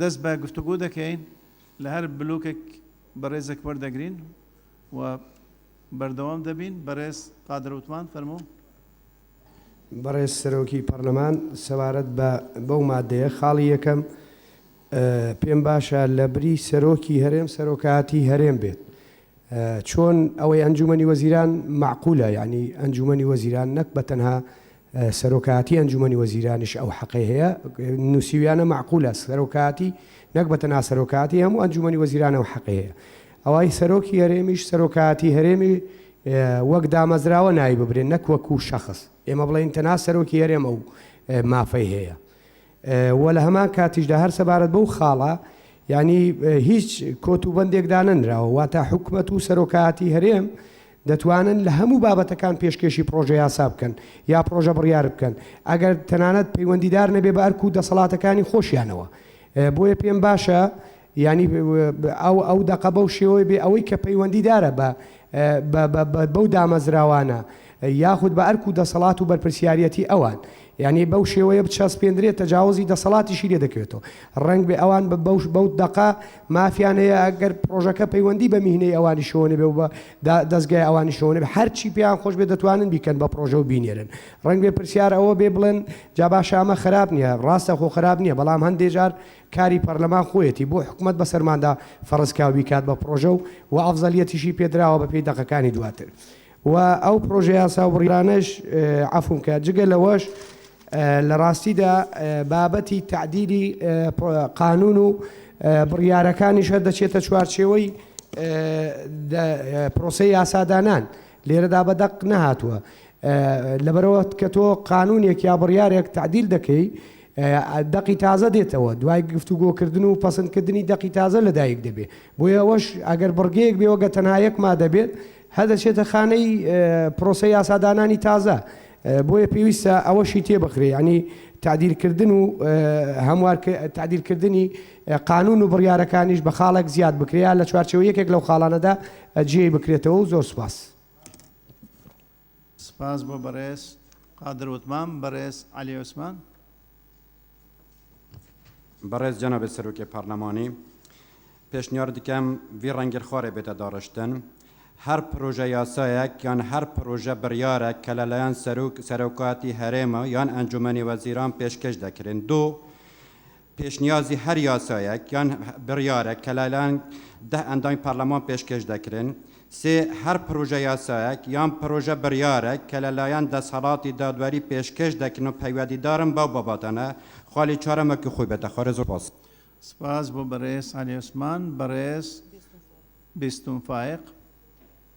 Speaker 1: دەست بە گفتوگۆ دەکەین لە هەر بلۆکێک بەڕێزێک وەردەگرین و بەردەوام دەبین. بەڕێز قادر عوتمان، فەرموو.
Speaker 7: بەڕێز سەرۆکی پەڕلەمان، سەبارەت بە بەو مادەیە، خاڵی یەکەم، پێم باشە لە بری سەرۆکی هەرێم سەرۆکایەتی هەرێم بێت. چۆن ئەوەی ئەنجوومەنی وەزیران مەعقولە، یانی ئەنجوومەنی وەزیران نەک بە تەنها سەرۆکایەتی ئەنجومەنی وەزیرانیش ئەو حەقەی هەیە نوسیویانە مەعقولە سەرۆکایەتی نەک بە تەنها سەرۆکایەتی هەموو ئەنجومەنی وەزیران ئەو حەقەی هەیە ئەوەی سەرۆکی هەرێمیش سەرۆکایەتی هەرێمی وەک دامەزراوە ناوی ببرێن نەک وەکو شەخص ئێمە بڵێین تەنها سەرۆکی هەرێمە و مافەی هەیە و لە هەمان کاتیشدا هەر سەبارەت بەو خاڵە یانی هیچ کۆت و بەندێک دانەنراوە، واتە حکومەت و سەرۆکایەتی هەرێم دەتوانن لە هەموو بابەتەکان پێشکێشی پڕۆژە یاسا بکەن یا پڕۆژە بڕیار بکەن، ئەگەر تەنانەت پەیوەندیدار نەبێ بە ئەرک و دەسەڵاتەکانی خۆشیانەوە، بۆیە پێم باشە یانی ئەو ئەو دەقە بەو شێوەی بێ ئەوەی کە پەیوەندی دارە بە بە بە بە بەو دامەزراوانە یاخود بە ئەرک و دەسەڵات و بەرپرسیاریەتی ئەوان یانی بەو شێوەیە بچەسپێندرێت تەجاوزی دەسەڵاتیشی لێ دەکەوێتەوە ڕەنگ بێ ئەوان بە بەوش بەو دەقە مافیان هەیە ئەگەر پرۆژەکە پەیوەندی بە میهنەی ئەوانی شەوە نەبێ و بە دا دەزگای ئەوانی شەوە نەبێ هەرچی پێیان خۆش بێ دەتوانن بیکەن بە پرۆژە و بینێرن ڕەنگ بێ پرسیار ئەوە بێ بڵێن جا باشە ئەمە خراپ نییە ڕاستە خۆ خراپ نییە بەڵام هەندێ جار کاری پەرلەمان خۆیەتی بۆ حکومەت بەسەرماندا فەرزکاو بیکات بە پڕۆژە و وە ئەفزەلیەتیشی پێدراوە بەپێی دەقەکانی دواتر و ئەو پڕۆژە یاسا و بڕیارانەش عەفوم کە جگە لەوەش لە ڕاستیدا بابەتی تەعدیلی قانون و بڕیارەکانیش هەر دەچێتە چوارچێوەی پرۆسەی یاسادانان لێرەدا بە دەق نەهاتووە لەبەرئەوە کە تۆ قانونێک یا بڕیارێک تەعدیل دەکەی دەقی تازە دێتەوە دوای گفتوگۆکردن و پەسندکردنی دەقی تازە لەدایک دەبێ بۆیە ئەوەش ئەگەر بڕگەیەک بێ وەگە تەنها یەک مادە بێت هەدەچێتە خانەی پرۆسە یاسادانانی تازە بۆیە پێویستە ئەوەشی تێبخرێ ینی تعدیلکردن و هەموار تعدیلکردنی قانون و بڕیارەکانیش بە خاڵێک زیاد بکرێت لە چوارچەوە یەکێک لەو خاڵانەدا جێی بکرێتەوە و زۆر سپاس.
Speaker 1: سپاس بۆ بەڕێز قادر وتمام بەڕێز عەلی عوسمان.
Speaker 13: بەڕێز جەنابێت سەرۆکی پارلەمانی پێشنیار دکەم وی ڕەنگیر خوارێ بێتە داڕشتن هەر پرۆژە یاسایەک یان هەر پرۆژە بڕیارێک کە لەلایەن سەرۆک سەرۆکاتی هەرێمە یان ئەنجومەنی وەزیران پێشکەش دەکرێن دوو پێشنیازی هەر یاسایەک یان بڕیارەک کە لەلایەن دە ئەندامی پەرلەمان پێشکەش دەکرێن. سێ، هەر پڕۆژە یاسایەک یان پڕۆژە بڕیارەک کە لەلایەن دەسهەڵاتی دادوەری پێشکەش دەکرێن و پەیوەدیدارن بەو بابەتانە. خاڵی چوارەم وەکو خۆی بێتە خوارێ. زۆر سپاس. سپاس بۆ
Speaker 1: بەڕێز عەلی عوسمان. بەڕێز بیستون فایق.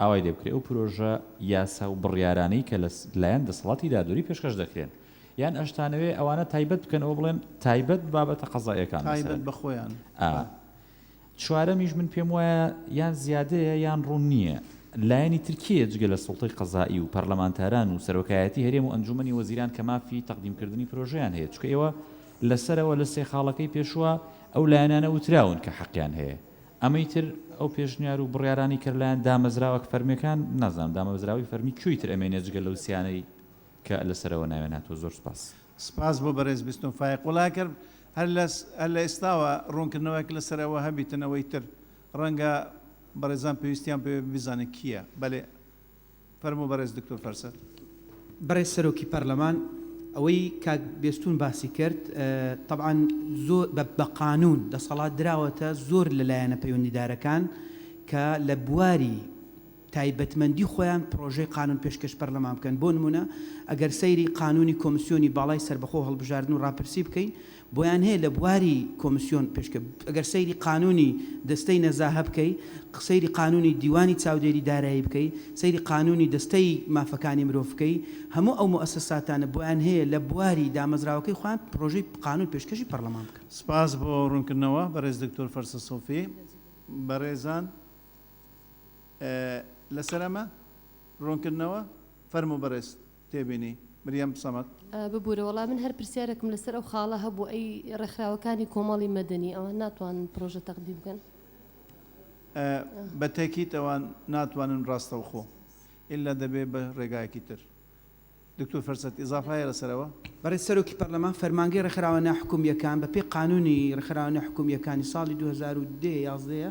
Speaker 17: ئاوای لێ بکرێت، ئەو پرۆژە یاسا و بڕیارانەی کە لە لایەن دەسەڵاتی دادوەری پێشکەش دەکرێن، یان ئەشتانەوێ ئەوانە تایبەت بکەن و بڵێن تایبەت بابەتە قەزائیەکان مەسەلەن. تایبەت بە خۆیان.
Speaker 1: ئا.
Speaker 17: چوارەمیش من پێم وایە یان زیادەیە یان ڕوون نییە لایەنی تر کێیە جگە لە سوڵتەی قەزائی و پەرلەمانتاران و سەرۆکایەتی هەرێم و ئەنجوومەنی وەزیران کە مافی تەقدیم کردنی پرۆژەیان هەیە چونکە ئێوە لە سەرەوە لە سێ خاڵەکەی پێشوە ئەو لایەنانە وتراون کە حەقیان هەیە. ئەمەی تر ئەو پێشنیار و بڕیارانەی کە لەلایەن دامەزراوە فەرمیەکان، نازانم دامەزراوەی فەرمی کوێی تر ئەمێنێت جگە لەو سیانەی کە لە سەرەوە ناویان هاتووە. زۆر سوپاس. سپاس بۆ بەرێز
Speaker 1: بیستون فایق. وەڵا ئەکەر هەر لە هەر لە ئێستاوە ڕوونکردنەوەک لە سەر ئەوە هەبیتن ئەوەی تر ڕەنگە بەڕێزان پێویستیان پێ بێ بزانن کییە. بەلێ فەرموو بەڕێز دکتۆر فەرسەت. بەڕێز
Speaker 5: سەرۆکی پەرلەمان ئەوەی کاک بێستون باسی کرد تەبعەن زۆر بە قانوون دەسەڵات دراوەتە زۆر لە لایەنە پەیوەندیدارەکان کە لە بواری تایبەتمەندی خۆیان پرۆژەی قانوون پێشکەش پەرلەمان بکەن بۆ نموونە ئەگەر سەیری قانوونی کۆمسیۆنی باڵای سەربەخۆ هەڵبژاردن و ڕاپرسی بکەین بۆیان هەیە لە بواری کۆمسیۆن پێشکە ئەگەر سەیری قانونی دەستەی نەزاهە بکەی سەیری قانونی دیوانی چاودێری دارایی بکەی سەیری قانونی دەستەی مافەکانی مرۆڤ بکەی هەموو ئەو موئەسەساتانە بۆیان هەیە لە بواری دامەزراوەکەی خۆیان پرۆژەی قانون پێشکەشی پەرلەمان بکەن. سپاس بۆ ڕوونکردنەوە
Speaker 1: بەڕێز دکتۆر فەرسە سۆفی. بەڕێزان لەسەر ئەمە ڕوونکردنەوە؟ فەرموو بەڕێز. تێبینی، مریەم سەمەد. ببورە وەڵا من
Speaker 12: هەر پرسیارێکم لەسەر ئەو خاڵە هەبوو ئەی ڕێکخراوەکانی کۆمەڵی مەدەنی ئەوان ناتوانن پڕۆژە تەقدیم بکەن؟
Speaker 1: بە تەکیت ئەوان ناتوانن ڕاستەوخۆ ئیلا دەبێ بە ڕێگایەکی تر. دکتور فەرسەت ئیزافە هەیە لەسەر ئەوە؟ بەڕێز سەرۆکی
Speaker 5: پەرلەمان فەرمانگەی ڕێکخراوە ناحکومییەکان بە پێی قانوونی ڕێکخراوە ناحکومییەکانی ساڵی دوو هەزار و دە یازدە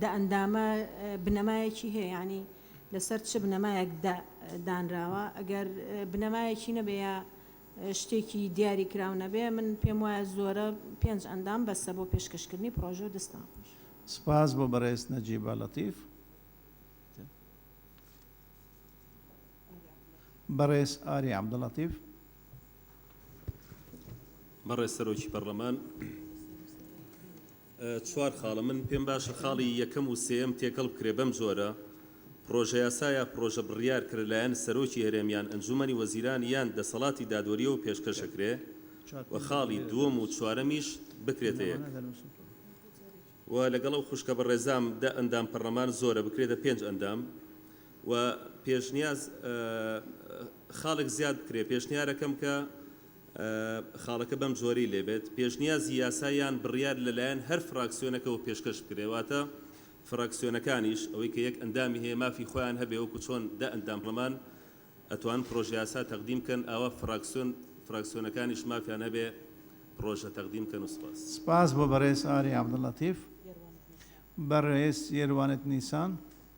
Speaker 10: دە ئەندامە بنەمایەکی هەیە یانی لەسەر چ بنەمایەک دە دانراوە ئەگەر بنەمایەکی نەبێ یا شتێکی دیاری کراو نەبێ من پێم وایە زۆرە پێنج ئەندام بەسە بۆ پێشکەشکردنی پڕۆژەو دەستان خۆش. سپاس بۆ
Speaker 1: بەڕێز نەجیبە لەتیف. بەڕێز ئاری عەبدولەتیف.
Speaker 2: بەڕێز سەرۆکی پەرلەمان، چوار خاڵە من پێم باشە خاڵی یەکەم و سێیەم تێکەڵ بکرێ بەم جۆرە، پڕۆژەیاسا یا پڕۆژە بڕیار کە لە لایەن سەرۆکی هەرێم یان ئەنجوومەنی وەزیران یان دەسەڵاتی دادوەرییەوە پێشکەش ئەکرێ و خاڵی دووەم و چوارەمیش بکرێتە یەک و لەگەڵ ئەو خوشکە بەڕێزام دە ئەندام پەڕلەمان زۆرە بکرێتە پێنج ئەندام و پێشنیاز خاڵێک زیاد بکرێ پێشنیارەکەم کە خاڵەکە بەم جۆرەی لێ بێت پێشنیازی یاسا یان بڕیار لە لایەن هەر فراکسیۆنەکەوە پێشکەش بکرێ واتە فراکسیۆنەکانیش ئەوەی کە یەک ئەندامی هەیە مافی خۆیان هەبێ وەکو چۆن دە ئەندام پەرلەمان ئەتوانن پڕۆژە یاسا تەقدیم کەن ئاوا فراکسیۆن فراکسیۆنەکانیش مافیان هەبێ پڕۆژە تەقدیم کەن و سپاس. سپاس بۆ بەڕێز
Speaker 1: ئاری عەبدولەتیف. بەڕێز یێروانت نیسان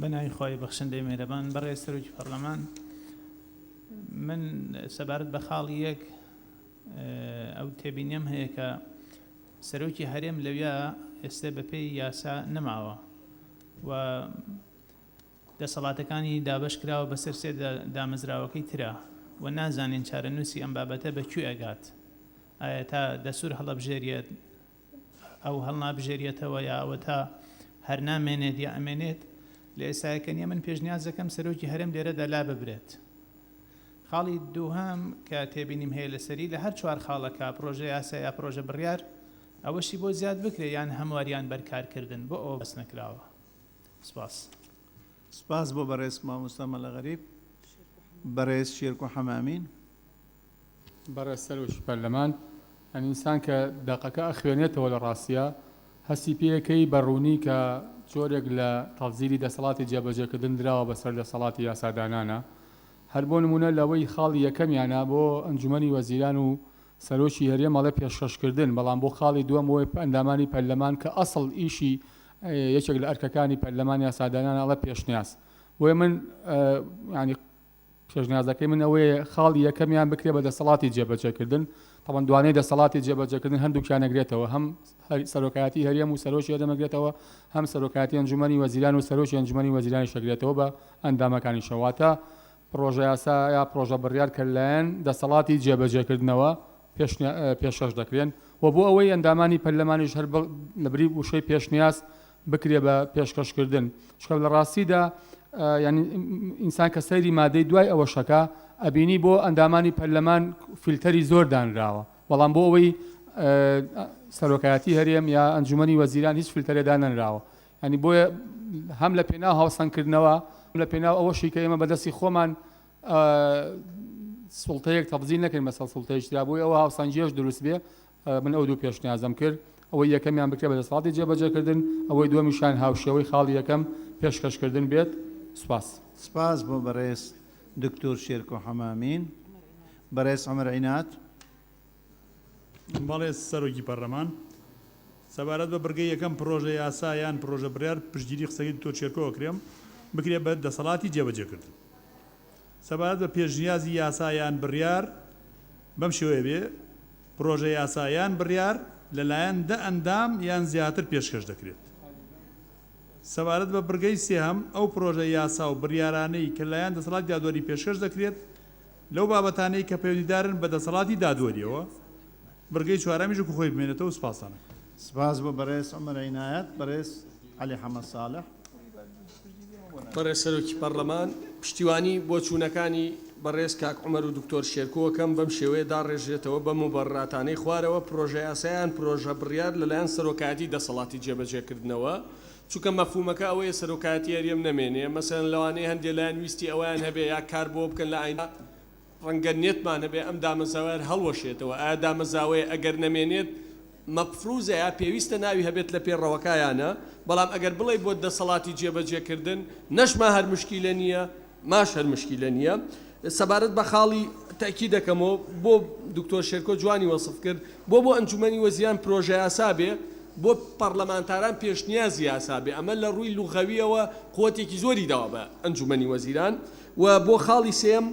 Speaker 18: بە ناوی خوای بەخشندەی مێرەبان بەڕێز سەرۆکی پەرلەمان من سەبارەت بە خاڵ یەک ئەو تێبینیم هەیە کە سەرۆکی هەرێم لەویا ئێستا بەپێی یاسا نەماوە و دەسەڵاتەکانی دابش کراوە بەسەر سێ دامەزراوەکەی ترا و نازانین چارەنووسی ئەم بابەتە بەکوێ ئەگات ئایا تا دەسوور هەڵەبژێریت ئەو هەڵنابژێریەتەوە یا ئەوەتا هەر نامێنێت یا ئەمێنێت لە ئێسایەکە نیە من پێشنیاز دەکەم سەرۆکی هەرێم لێرەدا لاببرێت خاڵی دووهەم کە تێبینیم هەیە لەسەری لە هەر چوار خاڵەکە پرۆژە یاسا یا پرۆژە بڕیار ئەوەشی بۆ زیاد بکرێ یان هەمواریان بەرکارکردن بۆ ئەوە بەس نەکراوە سپاس
Speaker 1: سپاس بۆ بەڕێز مامۆستا مەلا غەریب بەڕێز شێرکۆ حەمامین
Speaker 11: بەڕێز سەرۆکی پەرلەمان، ئەنیسان کە دەقەکە ئەخوێنێتەوە لە ڕاستیا هەستی پێیەکەی بە ڕوونی کە جۆرێک لە تەزیری دەسەڵاتی جێبەجێکردن دراوە بەسەر دەسەڵاتی یاسادانانا هەر بۆ نموونە لەوەی خاڵی یەکەمیانا بۆ ئەنجومەنی وەزیران و سەرۆکی هەرێم ئەڵێ پێشکەشکردن بەڵام بۆ خاڵی دووەم بۆ ئەندامانی پەرلەمان کە ئەسڵ ئیشی یەکێک لە ئەرکەکانی پەرلەمان یاسادانانە ئەڵێ پێشنیاز بۆیە من یانی پێشنیازەکەی من ئەوەیە خاڵی یەکەمیان بکرێت بە دەسەڵاتی جێبەجێکردن، تەبەن دوانەی دەسەڵاتی جێبەجێکردن هەردووکیان ئەگرێتەوە، هەم سەرۆکایەتی هەرێم و سەرۆکی هەرێم ئەگرێتەوە، هەم سەرۆکایەتی ئەنجومەنی وەزیران و سەرۆکی ئەنجومەنی وەزیرانیش ئەگرێتەوە بە ئەندامەکانیشەوە، واتە پڕۆژەیاسا یا پڕۆژەبڕیار کە لەلایەن دەسەڵاتی جێبەجێکردنەوە پێشنیا پێشکەش دەکرێن و بۆ ئەوەی ئەندامانی پەرلەمانیش هەر لەبری وشەی پێشنیاز بکرێ بە پێشکەش کردن چونکە لە ڕاستیدا یانی ئینسان کە سەیری مادەی دوای ئەوەشەکە ئەبینی بۆ ئەندامانی پەرلەمان فیلتەری زۆر دانراوە بەڵام بۆ ئەوەی سەرۆکایەتی هەرێم یا ئەنجومنی وەزیران هیچ فلتەرێدا نەنراوە ینی بۆیە هەم لە پێناو هاوسەنگکردنەوە لە پێناو ئەوەشی کە ئێمە بەدەستی خۆمان سڵتەیەک تەبزی نەکەین مەسەڵ سڵتەیەشترا بۆی ئەوە هاوسەنجێش دروست بێ من ئەو دوو پێشنیازەم کرد، ئەوەی یەکەمیان بکرێت بە دەسەڵاتی جێبەجێکردن، ئەوەی دووەمیشیان هاوشێوەی خاڵی یەکەم پێشکەشکردن بێت. سپاس. سپاس بۆ
Speaker 1: بەڕێز دکتۆر شێرکۆ حەمامین. بەڕێز عومەر عینات.
Speaker 4: بەڵێ سەرۆکی پەرلەمان. سەبارەت بە بڕگەی یەکەم پڕۆژە یاسا یان پڕۆژە بڕیار پشتگیری قسەکەی دکتۆر شێرکۆ ئەکرێم، بکرێت بە دەسەڵاتی جێبەجێکردن. سەبارەت بە پێشنیازی یاسا یان بڕیار، بەم شێوەیە بێ، پڕۆژە یاسا یان بڕیار لەلایەن دە ئەندام یان زیاتر پێشکەش دەکرێت. سەبارەت بە بڕگەی سێهەم، ئەو پڕۆژە یاسا و بڕیارانەی کە لەلایەن دەسەڵاتی دادوەری پێشکەش دەکرێت لەو بابەتانەی کە پەیوەندیدارن بە دەسەڵاتی دادوەرییەوە، بڕگەی چوارەمیش وەکو خۆی بمێنێتەوە سوپاستان ئەکەم. سپاس بۆ
Speaker 1: بەڕێز عومەر عینایەت. بەڕێز عەلی حەمە ساڵح.
Speaker 19: بەڕێز سەرۆکی پەڕلەمان، پشتیوانی بۆچوونەکانی بەڕێز کاک عومەر و دکتۆر شێرکۆ ئەکەم، بەم شێوەیە داڕێژرێتەوە بە موبەڕراتانەی خوارەوە، پڕۆژەیاسا یان پڕۆژە بڕیار لەلایەن سەرۆکایەتی دەسەڵاتی جێبەجێکردنەوە، چونکە مەفهوومەکە ئەوەیە سەرۆکایەتی هەرێم نەمێنێ، مەسەلەن لەوانەیە هەندێ لایەن ویستی ئەوەیان هەبێ یا کار بۆوە بکەن لە ئایندە، ڕەنگە نێتمان هەبێت ئەم دامەزاوەیەر هەڵوەشێتەوە ئایا دامەزاوەیە ئەگەر نەمێنێت مەفروزە یا پێویستە ناوی هەبێت لە پێ ڕەوەکا یا نە بەڵام ئەگەر بڵێی بۆ دەسەڵاتی جێ بەجێ کردن نەش ما هەر مشکیلە نیە ماش هەر مشکیلە نیە سەبارەت بە خاڵی تاکی دەکەمەوە بۆ دکتۆر شێرکۆ جوانی وەسف کرد بۆ بۆ ئەنجومەنی وەزیان پرۆژە یاسا بێ بۆ پەرلەمانتاران پێشنیازی یاسا بێ ئەمە لە ڕووی لوغەویەوە قوتێکی زۆری داوە بە ئەنجومەنی وەزیران و بۆ خاڵی سێیەم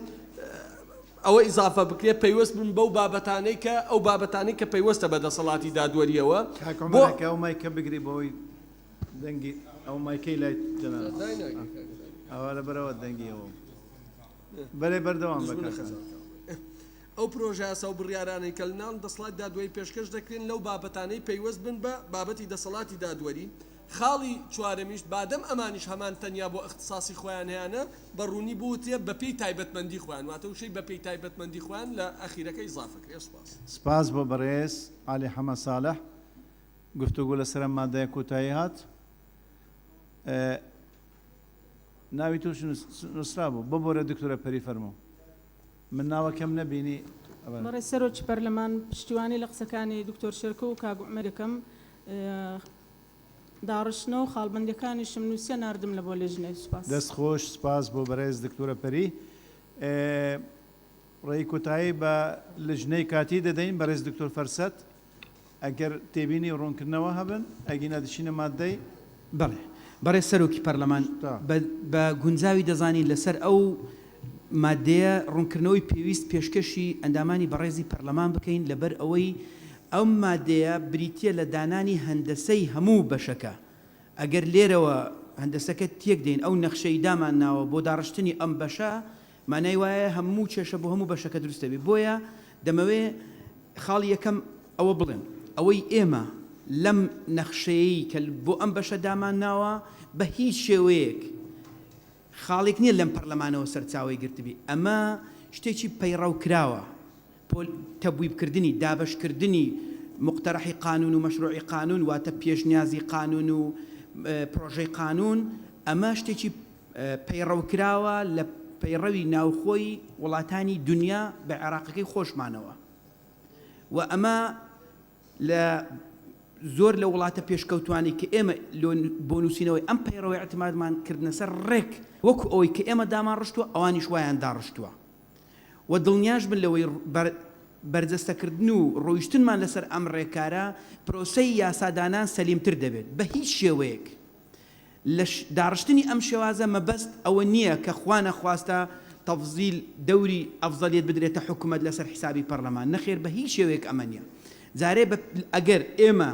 Speaker 19: ئەوە ئیزافە بکرێت پەیوەست بن بەو بابەتانەی کە ئەو بابەتانەی کە پەیوەستە بە دەسەڵاتی دادوەرییەوە بۆ ئەو
Speaker 1: مایکە بگری بۆی دەنگی ئەو مایکەی لای ئەوە لە بەرەوە دەنگیەوە بەێ بەردەوام بەکەسە
Speaker 19: ئەو پرۆژاسە و بڕارانەی کە ناون دەسڵات دادوەری پێشکەش دەکرێن لەو بابەتانەی پەیوەست بن بە بابەتی دەسەڵاتی دادوەری خاڵی چوارەمیش، بادەم ئەمانیش هەمان تەنیا بۆ ئیختساسی خۆیان هەیانە، بە ڕوونی بوترێ بە پێی تایبەتمەندی خۆیان، واتە وشەی بە پێی تایبەتمەندی خۆیان لە ئەخیرەکە ئیزافە کرێ. سپاس. سپاس بۆ
Speaker 1: بەڕێز عەلی حەمە ساڵح. گفتوگۆ لەسەر ئەم مادەیە کۆتایی هات. ناوی تۆش نوسرابوو. ببورە دکتۆرە پەری فەرموو. من ناوەکەم نەبینی. بەڕێز سەرۆکی
Speaker 20: پەرلەمان پشتیوانی لە قسەکانی دکتۆر شێرکۆ و کاک عومەر دەکەم. داڕشتنەوە و خاڵبەندیەکانیشم نوسیە ناردم لە بۆ لیژنەی سوپاس. دەست خۆش سوپاس
Speaker 1: بۆ بەرێز دکتۆرە پەری ڕێی کۆتایی بە لجنەی کاتی دەدەین بەرێز دکتۆر فەرسەت ئەگەر تێبینی و ڕوونکردنەوە هەبن ئەگینا دەچینە ماددەی بەڵێ
Speaker 5: بەڕێز سەرۆکی پەرلەمان بە گونجاوی دەزانین لەسەر ئەو ماددەیە ڕوونکردنەوەی پێویست پێشکەشی ئەندامانی بەڕێزی پەرلەمان بکەین لەبەر ئەوەی ئەم ماددەیە بریتییە لە دانانی هەندەسەی هەموو بەشەکە ئەگەر لێرەوە هەندەسەکە تێک دەین ئەو نەخشەی دامان ناوە بۆ داڕشتنی ئەم بەشە مانای وایە هەموو کێشە بۆ هەموو بەشەکە دروست دەبێت بۆیە دەمەوێ خاڵی یەکەم ئەوە بڵێم ئەوەی ئێمە لەم نەخشەیەی کە بۆ ئەم بەشە دامان ناوە بە هیچ شێوەیەک خاڵیک نیە لەم پەرلەمانەوە سەرچاوەی گرتبی، ئەمە شتێکی پەیڕەوکراوە، پۆل تەبویب کردنی، دابەشکردنی موقتەرەحی قانون و مەشروعی قانون واتە پێشنیازی قانون و پرۆژەی قانون، ئەمە شتێکی پەیڕەوکراوە لە پەیڕەوی ناوخۆی وڵاتانی دونیا بە عێراقەکەی خۆشمانەوە و ئەمە. لە زۆر لە وڵاتە پێشکەوتوانی کە ئێمە بۆ نووسینەوەی ئەم پەیڕەوە ئیعتمادمان کردنە سەر ڕێک وەکو ئەوەی کە ئێمە دامان ڕشتووە ئەوانیش وایان داڕشتووە و دڵنیاش بن لەوەی بەرجەستەکردن و ڕۆیشتنمان لەسەر ئەم ڕێکارە پرۆسەی یاسادانان سەلیمتر دەبێت بە هیچ شێوەیەک لە داڕشتنی ئەم شێوازە مەبەست ئەوە نییە کە خوا نەخواستە تەفزیل دەوری ئەفزەلیەت بدرێتە حکومەت لەسەر حیسابی پەڕلەمان، نەخێر بە هیچ شێوەیەک ئەمە نییە. جارێ بە ئەگەر ئێمە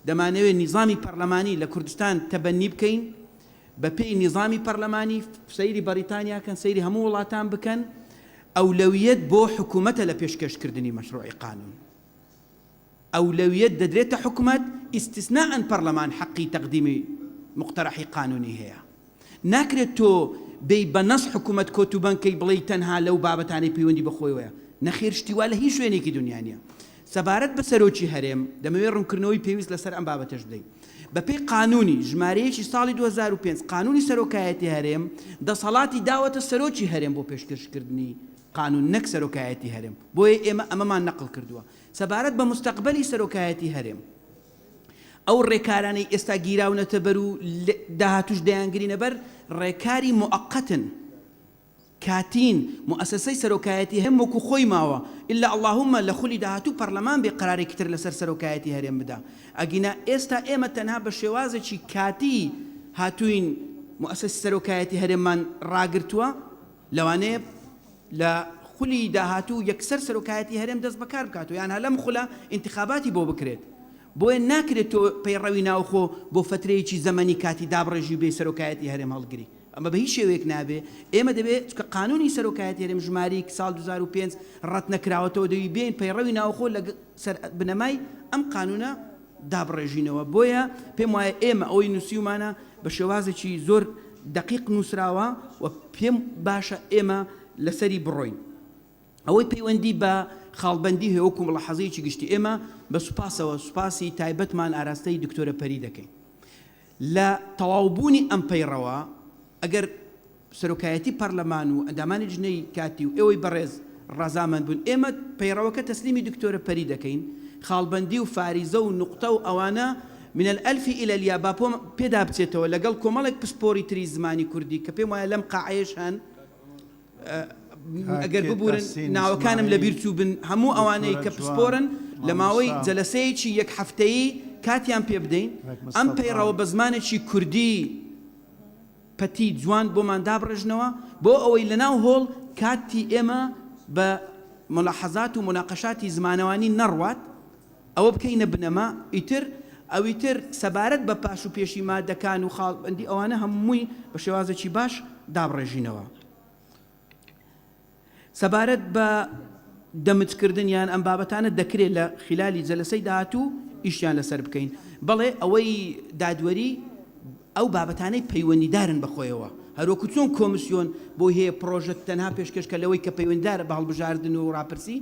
Speaker 5: دەمانەوێت نیزامی پەڕلەمانی لە کوردستان تەبەنی بکەین بە پێی نیزامی پەڕلەمانی، سەیری بەڕیتانیا کەن، سەیری هەموو وڵاتان بکەن، ئەولەویەت بۆ حکومەتە لە پێشکەش کردنی مەشڕوعی قانوون. ئەولەویەت دەدرێتە حکومەت، ئیستسناء پەرلەمان حەقی تەقدیمی موقتەرەحی قانونی هەیە. ناکرێت تۆ بێی بە نەص حکومەت کۆت و بەند کەی بڵێی تەنها لەو بابەتانەی پەیوەندی بە خۆیەوەیە. نەخێر شتی وا لە هیچ شوێنێکی دونیا نیە. سەبارەت بە سەرۆکی هەرێم، دەمەوێت ڕونکردنەوەی پێویست لەسەر ئەم بابەتەش بدەین. بە پێی قانونی، ژمارە یەکی ساڵی دوو هەزار و پێنج، قانونی سەرۆکایەتی هەرێم، دەسەڵاتی داوەتە سەرۆکی هەرێم بۆ پێشکەشکردنی قانون نەک سەرۆکایەتی هەرێم. بۆیە ئێمە ئەمەمان نەقڵ کردوە. سەبارەت بە مستەقبەلی سەرۆکایەتی هەرێم، ئەو رێکارانەی ئێستا گیراونەتەبەر و لە داهاتووش دەیانگرینەبەر، رێکاری موقتن، کاتین، موئەسەسەی سەرۆکایەتی هەرێم وەکو خۆی ماوە، الا اللهم لە خولی داهاتوو پەرلەمان بێ قەرارێکی تر لەسەر سەرۆکایەتی هەرێم بدا، ئەگینا ئێستا ئێمە تەنها بە شێوازێکی کاتی هاتووین موئەسەسی سەرۆکایەتی هەرێممان راگرتووە. لەوانەیە لە خولی داهاتوو یەکسەر سەرۆکایەتی هەرێم دەست بەکار بکات و یانها لەم خولە ئینتخاباتی بۆ بکرێت، بۆیە ناکرێت تۆ پەیڕەوی ناوخۆ بۆ فەترەیەکی زەمەنی کاتی دابڕێژی و بێی سەرۆکایەتی هەرێم هەڵگری، ئەمە بە هیچ شێوەیەک نابێ، ئێمە دەبێ چونکە قانوونی سەرۆکایەتی هەرێم ژماریک ساڵ دوو هەزار و پێنج ڕەتنەکراوەتەوە دەوی بێین پەیڕەوی ناوخۆ لە سەر بنەمای ئەم قانوونە دابڕێژینەوە، بۆیە پێم وایە ئێمە ئەوەی نووسیومانە بە شێوازێکی زۆر دەقیق نووسراوە و پێم باشە ئێمە لەسەری بڕۆین. ئەوەی پەیوەندی بە خاڵبەندی هەیە وەکوو مڵەحەزەیەکی گشتی ئێمە بە سوپاسەوە سوپاسی تایبەتمان ئاراستەی دکتۆرە پەری دەکەین. لە تەواوبوونی ئەم پەیڕەوە ئەگەر سەرۆکایەتی پەرلەمان و ئەندامانی لیژنەی کاتی و ئێوەی بەڕێز ڕەزامەند بن ئێمە پەیڕەوەکە تەسلیمی دکتۆرە پەری دەکەین خاڵبەندی و فاریزە و نوقتە و ئەوانە من الالف الی الیا با پێدابچێتەوە لەگەڵ کۆمەڵێک پسپۆڕی تری زمانی کوردی کە پێم وایە لەم قاعەیەش هەن ئەگەر ببورن ناوەکانم لە بیر چووبن هەموو ئەوانەی کە پسپۆرن لە ماوەی جەلەسەیەکی یەک هەفتەیی کاتیان پێ بدەین ئەم پەیڕەوە بە زمانێکی کوردی پەتی جوان بۆمان دابڕێژنەوە بۆ ئەوەی لە ناو هۆڵ کاتی ئێمە بە مولاحەزات و موناقەشاتی زمانەوانی نەڕوات. ئەوە بکەینە بنەما ئیتر ئەویتر سەبارەت بە پاش و پێشی مادەکان و خاڵبەندی ئەوانە هەمووی بە شێوازێکی باش دابڕێژینەوە سەبارەت بە دەمجکردن یان ئەم بابەتانە دەکرێت لە خلالی جەلسەی داهاتوو ئیشیان لەسەر بکەین بەڵێ ئەوەی دادوەری ئەو بابەتانەی پەیوەندیدارن بەخۆیەوە هەروەکو چۆن کۆمسیۆن بۆی هەیە پرۆژە تەنها پێشکەشکە لەوەی کە پەیوەنددارە بە هەڵبژاردن و ڕاپرسی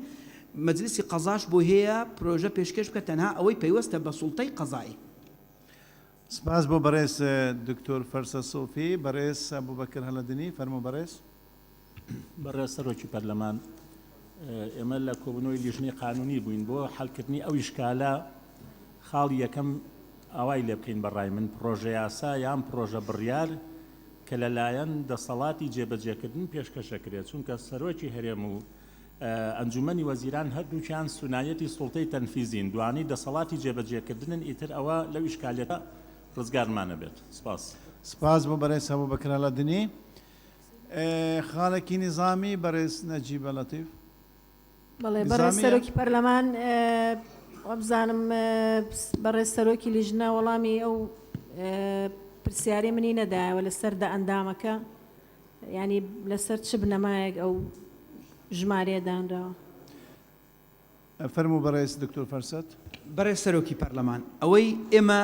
Speaker 5: مەجلیسی قەزاش بۆ هەیە پرۆژە پێشکەش بکە تەنها ئەوەی پەیوەستە بە سوڵتەی قەزایی.
Speaker 1: سپاس بۆ بەڕێز دکتۆر فەرسە سۆفی. بەڕێز ئەبوبەکر هەلەدنی، فەرموو بەڕێز.
Speaker 3: بەڕێز سەرۆکی پەرلەمان، ئێمە لە کۆبوونەوەی لیژنەی قانوونی بووین بۆ حەلکردنی ئەو ئیشکالە، خاڵی یەکەم ئاوای لێ بکەین بەڕای من پڕۆژەیاسا یان پڕۆژە بڕیار کە لەلایەن دەسەڵاتی جێبەجێکردن پێشکەش ئەکرێت چونکە سەرۆکی هەرێم و ئەنجومەنی وەزیران هەردووکیان سونایەتی سوڵتەی تەنفیزین دوانی دەسەڵاتی جێبەجێکردنن ئیتر ئەوە لەو ئیشکالیەتە ڕزگارمان ئەبێت سپاس. سپاس بۆ بەرێز
Speaker 1: هەبو بەکر ئەلەدنی خاڵێکی نیزامی بەرێز نەجیبە لەتیف. بەڵێ
Speaker 10: بەڕێز سەرۆکی پەرلەمان وابزانم بەڕێز سەرۆکی لیژنە وەڵامی ئەو پرسیارەی منی نەدایەوە لەسەر دە ئەندامەکە. یانی لەسەر چ بنەمایەک ئەو ژمارەیە دانراوە؟ فەرموو
Speaker 1: بەڕێز دکتۆر فەرسەت. بەڕێز سەرۆکی
Speaker 5: پەرلەمان، ئەوەی ئێمە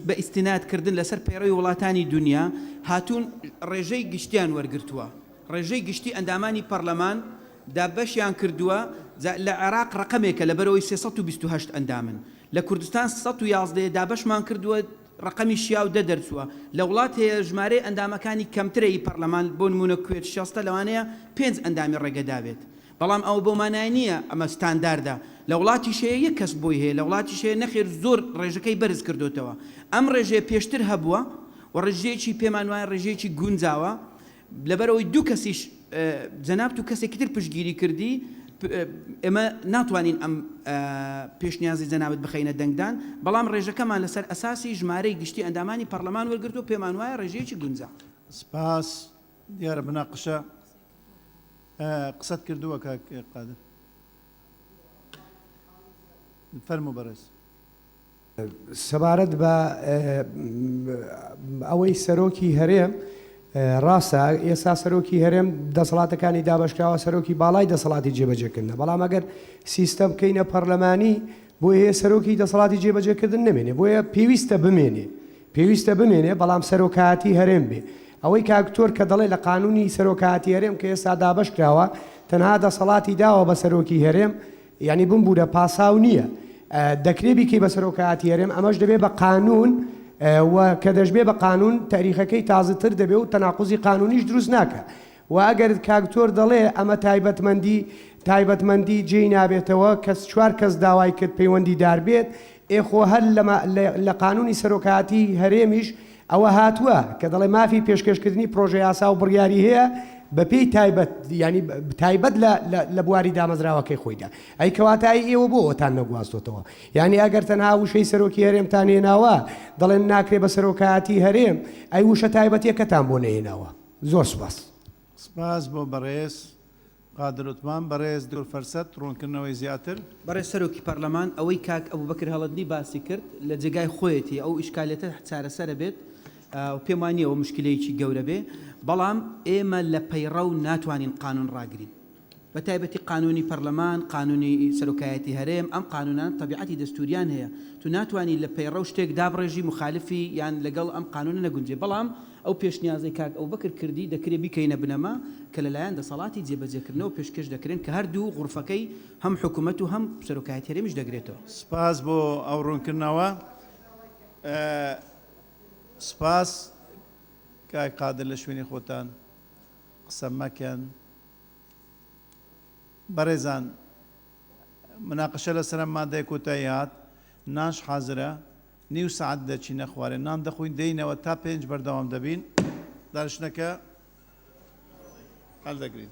Speaker 5: بە ئیستیناد کردن لەسەر پەیڕەوی وڵاتانی دونیا هاتوون ڕێژەی گشتیان وەرگرتووە، ڕێژەی گشتی ئەندامانی پەرلەمان دابەشیان کردووە، جا لە عێراق ڕەقەمێکە لەبەرئەوەی سێ سەد و بیست و هەشت ئەندامن، لە کوردستان سەد و یازدە یە دابەشمان کردووە، ڕەقەمی شیاو دە دەرچووە. لە وڵات هەیە ژمارەی ئەندامەکانی کەمترە ی پەڕلەمان بۆ نموونە کوێت شەستە لەوانەیە پێنج ئەندامی ڕێگەدا بێت بەڵام ئەوە بەو مانایە نییە ئەمە ستانداردە لە وڵاتیش هەیە یەک کەس بۆی هەیە لە وڵاتیش هەیە نەخێر زۆر ڕێژەکەی بەرز کردۆتەوە ئەم ڕێژەیە پێشتر هەبووە و ڕێژەیەکی پێمان وایە ڕێژەیەکی گونجاوە لەبەرئەوەی دوو کەسیش جەنابت و کەسێکی تر پشتگیری کردی، ئێمە ناتوانین ئەم پێشنیازەی جەنابت بخەینە دەنگدان، بەڵام رێژەکەمان لەسەر ئەساسی ژمارەی گشتی ئەندامانی پەڕلەمان وەرگرتووە، پێمان وایە رێژەیەکی گونجا. سپاس،
Speaker 1: دیارە مناقشە قسەت کردووە کاک قادر. فەرموو بەڕێز. سەبارەت
Speaker 7: بە ئەوەی سەرۆکی هەرێم ڕاستە ئێستا سەرۆکی هەرێم دەسەڵاتەکانی دابشکراوە سەرۆکی باڵای دەسەڵاتی جێبەجێکردنە بەڵام ئەگەر سیستەم بکەینە پەرلەمانی بۆ هەیە سەرۆکی دەسەڵاتی جێبەجێکردن نمێنێ بۆیە پێویستە بمێنێ پێویستە بمێنێ بەڵام سەرۆکایەتی هەرێم بێ ئەوەی کاکتۆر کە دەڵێ لە قانونی سەرۆکایەتی هەرێم کە ئێستا دابشکراوە تەنها دەسەڵاتی داوە بە سەرۆکی هەرێم یانی بمبورە پاساو نیە دەکرێ بیکەی بە سەرۆکایەتی هەرێم ئەمەش دەبێ بە قانون و کە دەشبێ بە قانون تاریخەکەی تازە تر دەبێ و تەناقوزی قانونیش دروست ناکە و ئەگەر کاکتۆر دەڵێ ئەمە تایبەتمەندی تایبەتمەندی جێی نابێتەوە کەس چوار کەس داوای کرد پەیوەندی دار بێت ئێ خۆ هەر لە قانونی سەرۆکایەتی هەرێمیش ئەوە هاتووە کە دەڵێ مافی پێشکەشکردنی پرۆژەیاسا و بڕیاری هەیە بە پێی تایبەت یانی تایبەت لە بواری دامەزراوەکەی خۆیدا ئەی کەواتە ئەی ئێوە بۆ ئەوەتان نەگواستۆتەوە یانی ئەگەر تەنها وشەی سەرۆکی هەرێمتان هێناوە دەڵێن ناکرێ بە سەرۆکایەتی هەرێم ئەی وشە تایبەتیەکەتان بۆ نەهێناوە زۆر سوپاس. سپاس
Speaker 1: بۆ بەڕێز. قادر عوتمان، بەڕێز دکتۆر فەرسەت ڕوونکردنەوەی زیاتر. بەڕێز سەرۆکی
Speaker 5: پەرلەمان، ئەوەی کاک ئەبوبەکر هەڵەدلی باسی کرد لە جێگای خۆیەتی، ئەو ئیشکالیەتە چارەسەرە بێت و پێم وانییە ئەوە مشکیلەیەکی گەورە بێ، بەڵام ئێمە لە پەیڕەو ناتوانین قانون ڕاگرین بە تایبەتی قانونی پەرلەمان، قانونی سەرۆکایەتی هەرێم، ئەم قانونانە تەبیعەتی دەستوریان هەیە، تو ناتوانی لە پەیڕەو شتێک دابڕێژی موخالفی یان لەگەڵ ئەم قانونە نەگونجێ، بەڵام. ئەو پێشنیازەی کاک ئەوبەکر کردی دەکرێ بیکەینە بنەما کە لەلایەن دەسەڵاتی جێبەجێکردنەوە پێشکەش دەکرێن کە هەردوو غورفەکەی هەم حکومەت و هەم سەرۆکایەتی هەرێمیش دەگرێتەوە. سپاس بۆ
Speaker 1: ئەو ڕوونکردنەوە. سپاس. کاک قادر لە شوێنی خۆتان قسە مەکەن. بەڕێزان مناقشە لەسەر ئەم مادەیە کۆتایی هات، نانش حازرە، نیو سەعات دەچینە خوارێ نان دەخۆین دێینەوە تا پێنج بەردەوام دەبین دانیشتنەکە هەلدەگرین.